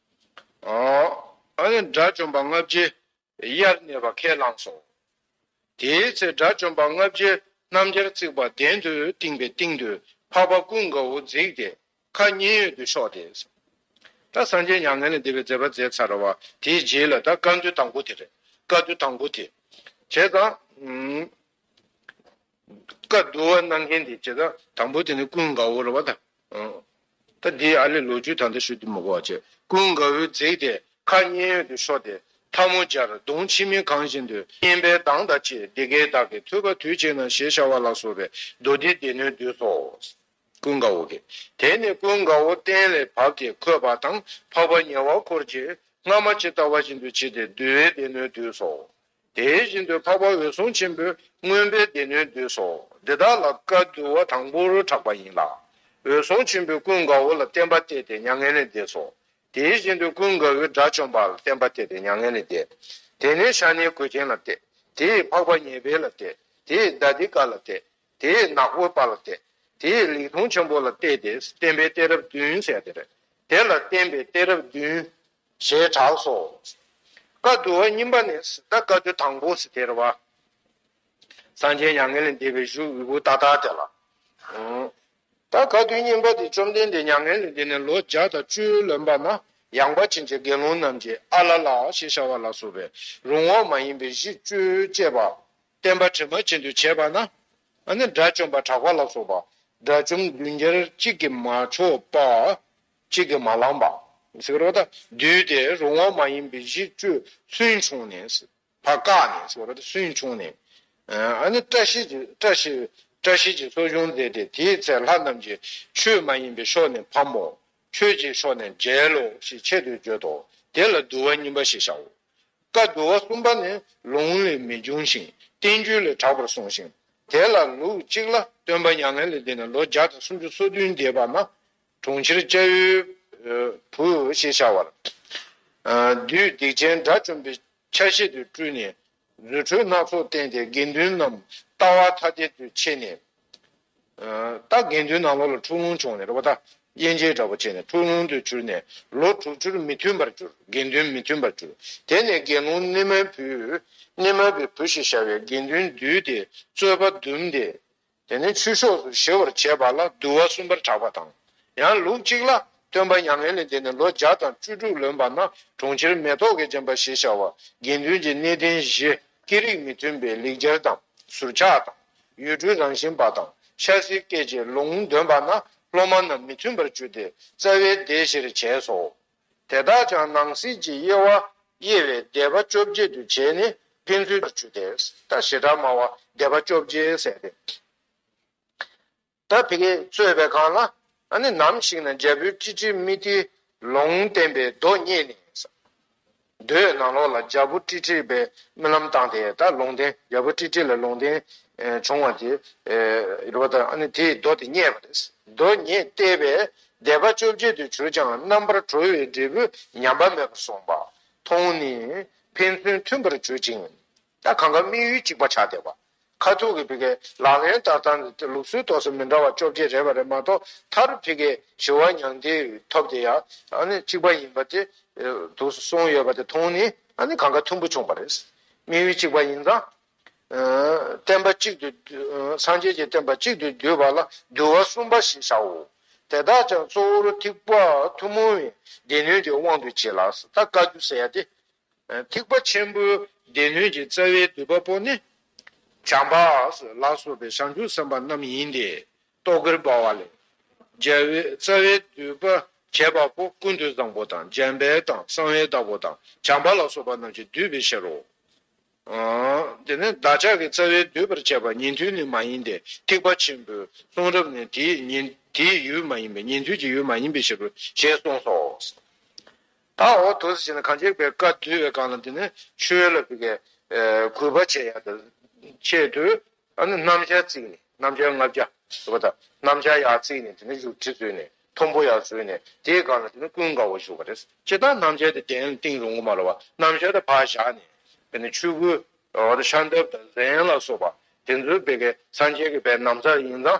དགྲ་བཅོམ་པ་ལྔ་བརྒྱའི་དབྱར་གནས་པ་ཁས་བླངས་སོ། དེའི་ཚེ་དགྲ་བཅོམ་པ་ལྔ་བརྒྱའི་སྣམ་སྦྱར་བརྩིགས་པ་གདན་དུ་བཏིང་པའི་སྟེང་དུ་འཕགས་པ་ཀུན་དགའ་བོ་འཛེགས་ཏེ་ཁ་མཉེན་ཡོད་དུ་ཕྱོགས་ཏེ། ད་སངས་རྒྱས་མྱ་ངན་ལས་འདས་པའི་མཛད་པ་མཛད་ཚར་བ་དེའི་རྗེས་ལ་ད་བཀའ་འདུས་དང་པོ་དེ་རེད་བཀའ་འདུས་དང་པོ་དེ་བྱས་ཙང། བཀའ་བསྡུ་བ་གནང་མཁན་དེ་བྱེད་དང། དང་པོ་དེ་ནི་ཀུན་དགའ་བོར་བ་དང། ད་དེའི་ཨ་ལས་ལོ་རྒྱུས་ད་ལྟ་ཞུ་དུ་མི་གོ་བ་བྱས། ཀུན་དགའ་བོས་འཛེགས་ཏེ་ཁ་སྙན་ཡོད་དུ་ཤོར་ཏེ་འཐབ་མོ་སྦྱར་གདོང་མཆི་མས་གང་བཞིན་དུ་སྙན་པའི་གདངས་དང་བཅས་འདི་སྐད་བདག་གིས་ཐོས་པ་དུས་གཅིག་ན་ཞེས་བྱ་བ་ལ་སོགས་པས་མདོ་སྡེའི་སྡེ་སྣོད་བསྡུས་སོ། ཀུན་དགའ་བོ་གིས་དེ་ནི་ཀུན་དགའ་བོ་སྟན་ལས་བབས་ཏེ་འཁོད་པ་དང་འཕགས་པ་ཉེ་བར་འཁོར་གྱིས་སྔ་མ་ཇི་ལྟ་བ་བཞིན་དུ་བྱས་ཏེ་བསྡུ་བའི་སྡེ་སྣོད་བསྡུས་སོ། དེ་བཞིན་དུ་འཕགས་པ་འོད་སྲུང་ཆེན་པོས་མངོན་པའི་སྡེ་སྣོད་བསྡུས་སོ། འདི་དག་ལ་བཀའ་བསྡུ་བ་དང་པོ་རུ་གྲགས་པ་ཡིན་ལ། འོད་སྲུང་ཆེན་པོས་ཀུན་དགའ་བོ་ལ་བསྟན་པ་གཏད་དེ་མྱ་ངན་ལས་འདས་སོ། དེ་བཞིན་དུ་ཀུན་དགའ་བོས་དགྲ་བཅོམ་པ་ལ་བསྟན་པ་གཏད་དེ་མྱ་ངན་ལས་འདས། དེ་ནས་ཤ་ནའི་གོས་ཅན་ལ་གཏད། དེས་འཕགས་པ་ཉེ་བའི་ལ་གཏད། དེས་ཟླ་སྡེ་ཀ་ལ་གཏད། དེས་ནག་པོ་པ་ལ་གཏད། དེས་ལིག་ཐོང་ཆེན་པོ་ལ་གཏད་དེ་བསྟན་པའི་གཏད་རབས་བདུན་གསལ། དེ་ལ་བསྟན་པའི་གཏད་རབས་བདུན། ཞེས་གྲགས་སོ། བཀའ་བསྡུ་བ་གཉིས་པ་ནི་གཟི་ཟླ་བཀའ་བསྡུ་དང་པོ་ཟི་ཐེར་བ། གསང་ཆེན་མྱ་ངན་ལས་འདས་པའི་བཞུགས་དབུས་བུདྡྷ་ཏཱ་དེ་ལ། ད་བཀའ་བསྡུ་གཉིས་པ་དེ་བཅོམ་ལྡན་འདས་མྱ་ངན་ལས་འདས་ནས་ལོ་བརྒྱ་དང་བཅུའི་ལོན་པ་ན་ཡངས་པ་ཅན་གྱི་དགེ་སློང་རྣམས་ཀྱིས་ཨ་ལ་ལ་ཞེས་བྱ་བ་ལ་སོགས་པའི་རུང་བ་མ་ཡིན་པའི་གཞི་བཅུ་བསྐྱེད་པ། བསྟན་པ་དྲི་མ་ཅན་དུ་བྱས་པ་ན་ནི་དགྲ་བཅོམ་པ་གྲགས་པ་ལ་སོགས་པ་དགྲ་བཅོམ་བདུན་བརྒྱར་གཅིག་གིས་མ་ཆོག་པ། གཅིག་གིས་མ་བླངས་པ། ཟེར་རོ། བསྡུས་ཏེ་རུང་བ་མ་ཡིན་པའི་གཞི་བཅུ་སུན་ཕྱུང་ནས། བ་བཀག་ནས་ཟེར་རོ། སུན་ཕྱུང་ནས། བཀྲ་ཤིས་ཀྱི་སོ་ཆུང་མཛད་དེ་དེའི་ཚེ་ལྷ་རྣམས་ཀྱིས་ཆོས་མ་ཡིན་པའི་ཕྱོགས་ནས་ཕམ་མོ། ཆོས་ཀྱི་ཕྱོགས་ནས་འཇལ་ལོ་ཞེས་ཆེད་དུ་བརྗོད་དོ། དེ་ལ་བསྡུ་བ་གཉིས་པ་ཞེས་བྱའོ། བཀའ་བསྡུ་བ་གསུམ་པ་ནི་ལུང་ལས་མི་འབྱུང་ཞིང་བསྟན་བཅོས་ལས་གྲགས་པར་གསུངས་ཤིང། དེ་ལ་ལུགས་གཅིག་ལ་སྟོན་པ་མྱ་ངན་ལས་འདས་ནས་ལོ་བརྒྱ་དང་སུམ་ཅུ་སོ་བདུན་འདས་པ་ན། གྲོང་ཁྱེར་སྐྱ་ཡུལ་བུ་ཞེས་བྱ་བར། བདུད་སྡིག་ཅན་དགྲ་བཅོམ་པའི་ཆ་བྱད་དུ་སྤྲུལ་ནས། རྫུ་འཕྲུལ་སྣ་ཚོགས་བསྟན་ཏེ་དགེ་འདུན་རྣམས་ལྟ་བ་ཐ་དད་དུ་ཕྱེ་ནས། རྟ་དགེ་འདུན་ནག་ལོ་ལ་འཁྲུག་ལོང་བྱུང་ནས་རོ་བ་ད་གཡེན་ཅལ་འདྲ་བོ་བྱས་ནས་འཁྲུག་ལོང་དུ་གྱུར་ནས་ལོ་དྲུག་ཅུར་མི་མཐུན་པར་གྱུར་དགེ་འདུན་མི་མཐུན་པར་གྱུར་དེ་ནས་དགེ་སློང་ནི་མའི་བུ། ནི་མ་པའི་བུ་ཞེས་བྱ་བའི་དགེ་འདུན་བསྡུས་ཏེ་རྩོད་པ་བཟླུམས་ཏེ། དེ་ནས་ཆུ་ཕྱོགས་སུ་གཞེས་བར་བྱས་པ་ལ་བསྡུ་བ་གསུམ་པར་གྲགས་པ་དང། ཡང་ལུགས་གཅིག་ལ། སྟོན་པ་མྱ་ངན་ལས་འདས་ནས་ལོ་བརྒྱ་དང་བཅུ་དྲུག་ལོན་པ་ན་གྲོང་ཁྱེར་མེ་ཏོག་གིས་བརྒྱན་པ་ཞེས་བྱ་བ། དགེ་འདུན་གྱི་གནས་བརྟན་བཞི་ཀྱི་རིགས་མི་མཐུན་པའི་ལེགས་སྦྱར་དང་ཟུར་ཆག་དང། ཡུལ་གྲུའི་རང་བཞིན་པ་དང་ཤ་ཟའི་སྐད་ཀྱི་ལུང་འདོན་པ་ན་སློབ་མ་རྣམས་མི་མཐུན་པར་གྱུར་ཏེ་རྩ་བའི་སྡེ་བཞིར་བྱས་སོ། དེ་དག་ཀྱང་སྣང་སྲིད་ཀྱི་དབྱེ་བ་དབྱེ་བའི་བཟླས་པ་བཅོ་བརྒྱད་དུ་བྱས་ནས་ཕན་ཚུན་བར་བཅུ་སྟེ་ད་ཞེ་དྲག་སྨྲ་བ་བཟླས་པ་བཅོ་བརྒྱད་བསལ་ཏེ། ད་བི་ཀའི་རྩོད་པའི་ཁང་ལ་ནི་ནམ་ཞིག་ན་རྒྱལ་པོའི་སྤྲིན་དྲི་མི་ཏི་ལོང་བསྟན་པའི་མདོ་སྙེད་ནས། རྡོའི་ནང་ལོགས་ལ་རྒྱལ་པོ་ཀྲི་ཀྲི་པའི་རྨི་ལམ་བཏང་སྟེ་ད་ལུང་བསྟན་རྒྱལ་པོ་ཀྲི་ཀྲི་ལ་ལུང་བསྟན་བྱུང་བ་དེ་རེད་པ་དང་དེས་རྡོ་དེ་རྙེད་པ་རེད། རྡོ་རྙེད་བལྟས་པས་སྡེ་པ་བཅོ་བརྒྱད་དུ་གྱུར་ཀྱང་རྣམ་པར་གྲོལ་བའི་འབྲས་བུ་ཉམས་པ་མེད་པར་སོང་པ་མཐོང་ནས་ཕན་ཚུན་མཐུན་པར་གྱུར་ཅིང། ད་གང་ག་དམིགས་ཡུལ་གཅིག་པ་ཆགས་བསྡད་པ། ཁ་ཐུག་གི་བི་ཀའི་ལག་ལེན་ལྟར་བཏང་ནས་དེ་ལུགས་སྲོལ་ཐོག་སོ་མི་འདྲ་བ་བཅོ་བརྒྱད་རེད་པ་རེད་མ་གཏོགས་མཐར་བི་ཀའི་ཞི་བ་མྱང་འདས་ཐོབ་དེ་ཡང་ནི་གཅིག་པ་ཡིན་པ་དེ་དུ་གསུངས་ཡོད་པ་དེ་མཐོང་ནི་ནི་གང་ག་ཐུམ་པོ་བྱུང་བ་རེད། དམིགས་ཡུལ་གཅིག་པ་ཡིན་ཙང། བསྟན་པ་གཅིག་ཏུ། སངས་རྒྱས་ཀྱི་བསྟན་པ་གཅིག་ཏུ་བསྡུས་པ་ལ་འདུལ་བ་གསུམ་པ་ཞེས་བྱའོ། དེ་དག་ཀྱང་གཙོ་བོར་ཐེག་པ་ཐུན་མོང་བའི་སྡེ་སྣོད་ཀྱི་དབང་དུ་བྱས་ལགས་ད་བཀའ་བརྒྱུད་ཟེར་ཡ་དེ། ཐེག་པ་ཆེན་པོའི་སྡེ་སྣོད་ཀྱི་རྩ་བའི་བསྡུས་པ་པོ་ནི། བྱམས་པ་ལ་སོགས་པའི་བྱང་ཆུབ་སེམས་དཔའ་རྣམས་ཡིན་ཏེ། རྟོག་གེར་འབར་བ་ལས། རྒྱལ་བའི་རྩ་བའི་བསྡུས་པ་བྱེད་པ་པོ་ཀུན་ཏུ་བཟང་པོ་དང་འཇམ་དཔལ་དང་གསང་བའི་བདག་པོ་དང་བྱམས་པ་ལ་སོགས་པ་རྣམས་ཀྱིས་བསྡུས་པའི་ཕྱིར་རོ། དེ་ནི་བདག་ཅག་གི་རྩ་བའི་བསྡུས་པར་བྱས་པ་ཉན་ཐོས་ནི་མ་ཡིན་ཏེ་ཐེག་པ་ཆེན་པོའི་གསུང་རབ་ནི་དེའི་ཡུལ་མ་ཡིན་པས་ཉན་ཐོས་ཀྱི་ཡུལ་མ་ཡིན་པའི་ཕྱིར་རོ་ཞེས་གསུངས་སོ། ད་འོ་དོ་ཟེར་བྱས་ན་གང་ཁྱེད་པའི་བཀའ་བསྡུས་པའི་སྒང་ལ་འདི་ནི་ཆོས་ལ་བུ་གས་གུས་པ་བྱེད་ཡག་དང་ཆེད་དུ་ཨ་ནི་རྣམ་བཞག་བརྩིགས་ནས་རྣམ་བཞག་ལྔ་བརྒྱ་ཟེར་བ་དང་རྣམ་བཞག་ཡག་བརྩིགས་ནས་དེ་ནི་བཞུགས་ཁྲི་བཟོས་ནས་མཐོན་པོ་ཡག་བཟོས་ནས་དེའི་སྒང་ལ་དེ་ནི་ཀུན་དགའ་བོ་བཞུགས་པ་རེད་ཅེ་ད་རྣམ་བཞག་དེ་གདན་ལ་བཏིང་རུང་གོ་མ་རུང་བ་རྣམ་བཞག་དེ་ཕར་བཞག་ནས་དེ་ནི་ཆོས་སྐུ་ཤར་འདབ་དང་གཟན་ལ་སོགས་པ་དེ་ཚོའི་བུ་གས་སངས་རྒྱས་ཀྱི་བའི་ནམ་མཚར་ཡིན་ཙང།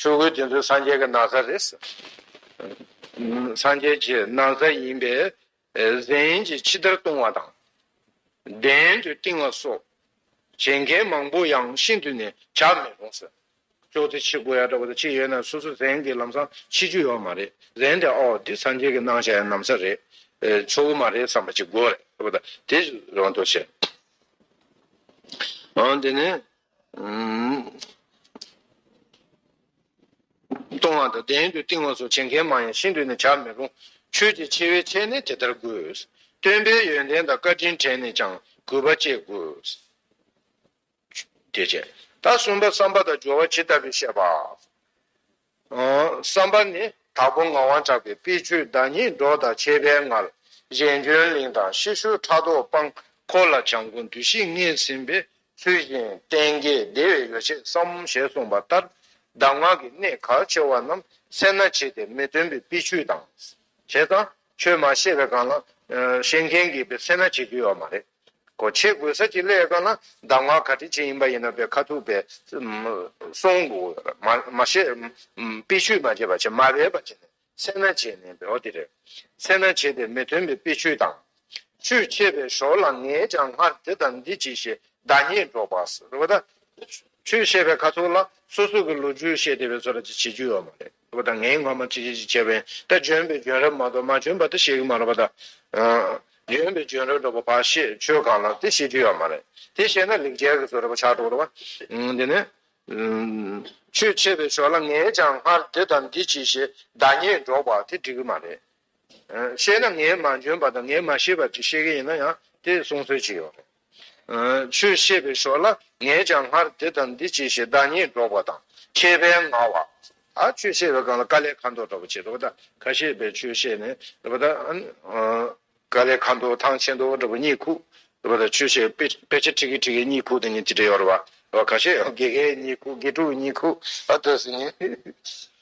ཆོས་གོས་དེ་ཚོ་སངས་རྒྱས་ཀྱི་ན་བཟའ་རེད། སངས་རྒྱས་ཀྱི་ན་བཟའ་ཡིན་པས་གཟན་གྱིས་ཕྱི་བདར་བཏུང་བ་དང། གདན་དུ་བཏིང་བ་སོགས་བྱེད་མཁན་མང་པོ་ཡང་ཤིན་ཏུ་ནས་བྱ་མི་རུང་ཟེར། ཅོག་ཙེ་ཕྱི་དགོས་ཡ་འདྲ་བོ་དང་ཕྱི་ཡོད་ན་སོ་སོ་གཟན་གྱི་ལམ་སང་ཕྱི་རྒྱུ་ཡོད་མ་རེད་གཟན་དེ་ཨོ་འདི་སངས་རྒྱས་ཀྱི་གནང་བྱ་ཡ་ནམ་ས་རེད། ཆོ་གོ་མ་རེད་བསམ་པ་ཅིག་དགོས་རེད། དེ་རང་དུ་བྱེད། འོན་ཏེ་ནི། གཏོང་བ་དང་གདན་དུ་བཏིང་བ་སོགས་བྱེད་མཁན་མང་ཡང་ཤིན་ཏུ་ནི་བྱར་མི་རུང། ཆོས་ཀྱི་ཆེ་བའི་ཆེད་ནི་དེ་ལྟར་དགོས། སྟོན་པའི་ཡོན་ཏན་དང་བཀའ་དྲིན་དྲན་ནས་ཀྱང་གུས་པ་བསྐྱེད་དགོས། དེ་བྱས། ད་གསུམ་པ་བསམ་པ་དང་སྦྱོར་བ་ཇི་ལྟ་བུས་བཤད་པ། བསམ་པ་ནི་དྭགས་པོ་ངག་དབང་གྲགས་པའི་དཔེ་བཅུའི་བདག་ཉིད་འབྲོག་དང་བཅས་པའི་ངར་གཞན་འཇོན་གླིང་དང་ཤེ་ཤུ་ཕྲག་དོག་སྤངས་འཁོར་ལ་བྱམས་མགོན་བདུད་བཞི་བརྔས་ཟིན་པའི་ཚུལ་བཞིན་བསྟན་རྒྱས་བདེ་བའི་ཡོ་བྱད་བསམ་ཞེས་གསུངས་པ་ལྟར་གདམས་ངག་གི་གནད་གལ་ཆེ་བ་རྣམས་སེར་སྣ་བྱས་ཏེ་མི་སྟོན་པའི་དཔེ་བཅུ་དང། བྱས་ཙང་ཆོས་མ་ཤེས་པའི་སྒང་ལ་ཤེས་མཁན་གྱིས་དཔེ་སེར་སྣ་བྱེད་རྒྱུ་ཡོད་མ་རེད། གོ། ཆས་གོས་གསར་གྱི་ཀླད་ཀ་ན་གདམས་ངག་ག་དྲིན་ཅན་ཡིན་པ་ཡིན་ན་པའི་ཁ་ཐུག་པའི། གསུང། མ་བཤད། དཔེ་ཆོས་མ་བྱས་པ་བྱས་མ་རེད་པ་བྱས་ནས་སེར་སྣ་བྱས་ནས་པའི་འོ་དེ་རེད། སེར་སྣ་བྱས་ཏེ་མི་མཐུན་པའི་དཔེ་ཆོས་དང། ཆོས་འཆད་པའི་ཞོར་ལ་ངས་ཀྱང་སྔར་འདི་དང་འདི་བྱས་ཞེས་བདག་ཉིད་སྒྲོག་པ། ཆོས་བཤད་པའི་ཁ་ཐུག་ལ་སོ་སོ་གི་ལོ་རྒྱུས་བཤད་བསྡད་པའི་ཚོ་ལ་ཅི་བྱེད་རྒྱུ་ཡོད་མ་རེད། པ་དང་ངའི་ངོ་མ་ཅི་བྱེད་ཅི་བྱེད་བས་ད་འབྱོན་པའི་འབྱོན་རབས་མ་གཏོགས་མ་འབྱོན་པ་ད་ཤེས་ཀྱི་མ་རེད་པ་ད། འབྱོན་པའི་འབྱོན་རབས་འགྲོ་པ་བ་ཤེས་ཆོས་གང་ལགས་དེ་ཤེས་རྒྱུ་ཡོད་མ་རེད་དེ་ཤེས་ན་ལེགས་རྒྱལ་གྱི་བཟོ་རེད་པ་ཆགས་འགྲོ་གི་རེད་པ། དེ་ནས། ཆོས་འཆད་པའི་ཞོར་ལ་ངས་ཀྱང་སྔར་འདི་དང་འདི་བྱས་ཞེས་བདག་ཉིད་སྒྲོག་པ་དེ་འགྲིག་གི་མ་རེད། ཤེས་ན་ངས་མ་འཇོན་པ་དང་ངས་མ་ཤེས་པ་ཅིག་ཤེས་ཀྱི་ཡིན་ན་ཡང་དེ་གསུང་སྲོལ་ཅིག་ཡོད་རེད། ཆོས་བཤད་པའི་ཞོར་ལ་ངས་ཀྱང་སྔར་འདི་དང་འདི་བྱས་ཞེས་བདག་ཉིད་སྒྲོག་པ་དང་ཁྱད་པའི་ང་བ། ཆོས་བཤད་པའི་སྒང་ལ་དཀའ་ལས་ཁ་མདོག་འདྲ་པོ་བྱེད་དོ་ད་ཁ་ཤས་པའི་ཆོས་བཤད་ནས་དཀའ་ལས་ཁ་མདོག་ཐང་ཆེན་མདོག་འདྲ་པོ་གཉིད་ཁུག་ཆོས་བཤད་དཔེ་ཆ་ཁྲིག་གི་ཁྲིག་གི་གཉིད་ཁུག་དེ་གཉིས་ཅི་འདྲ་ཡོད་རེད་བ། ཁ་ཤས་ཡང་དགེ་རྒན་གཉིད་ཁུག་དགེ་ཕྲུག་གཉིད་ཁུག་ཨ་སྟོད་སི་ངན།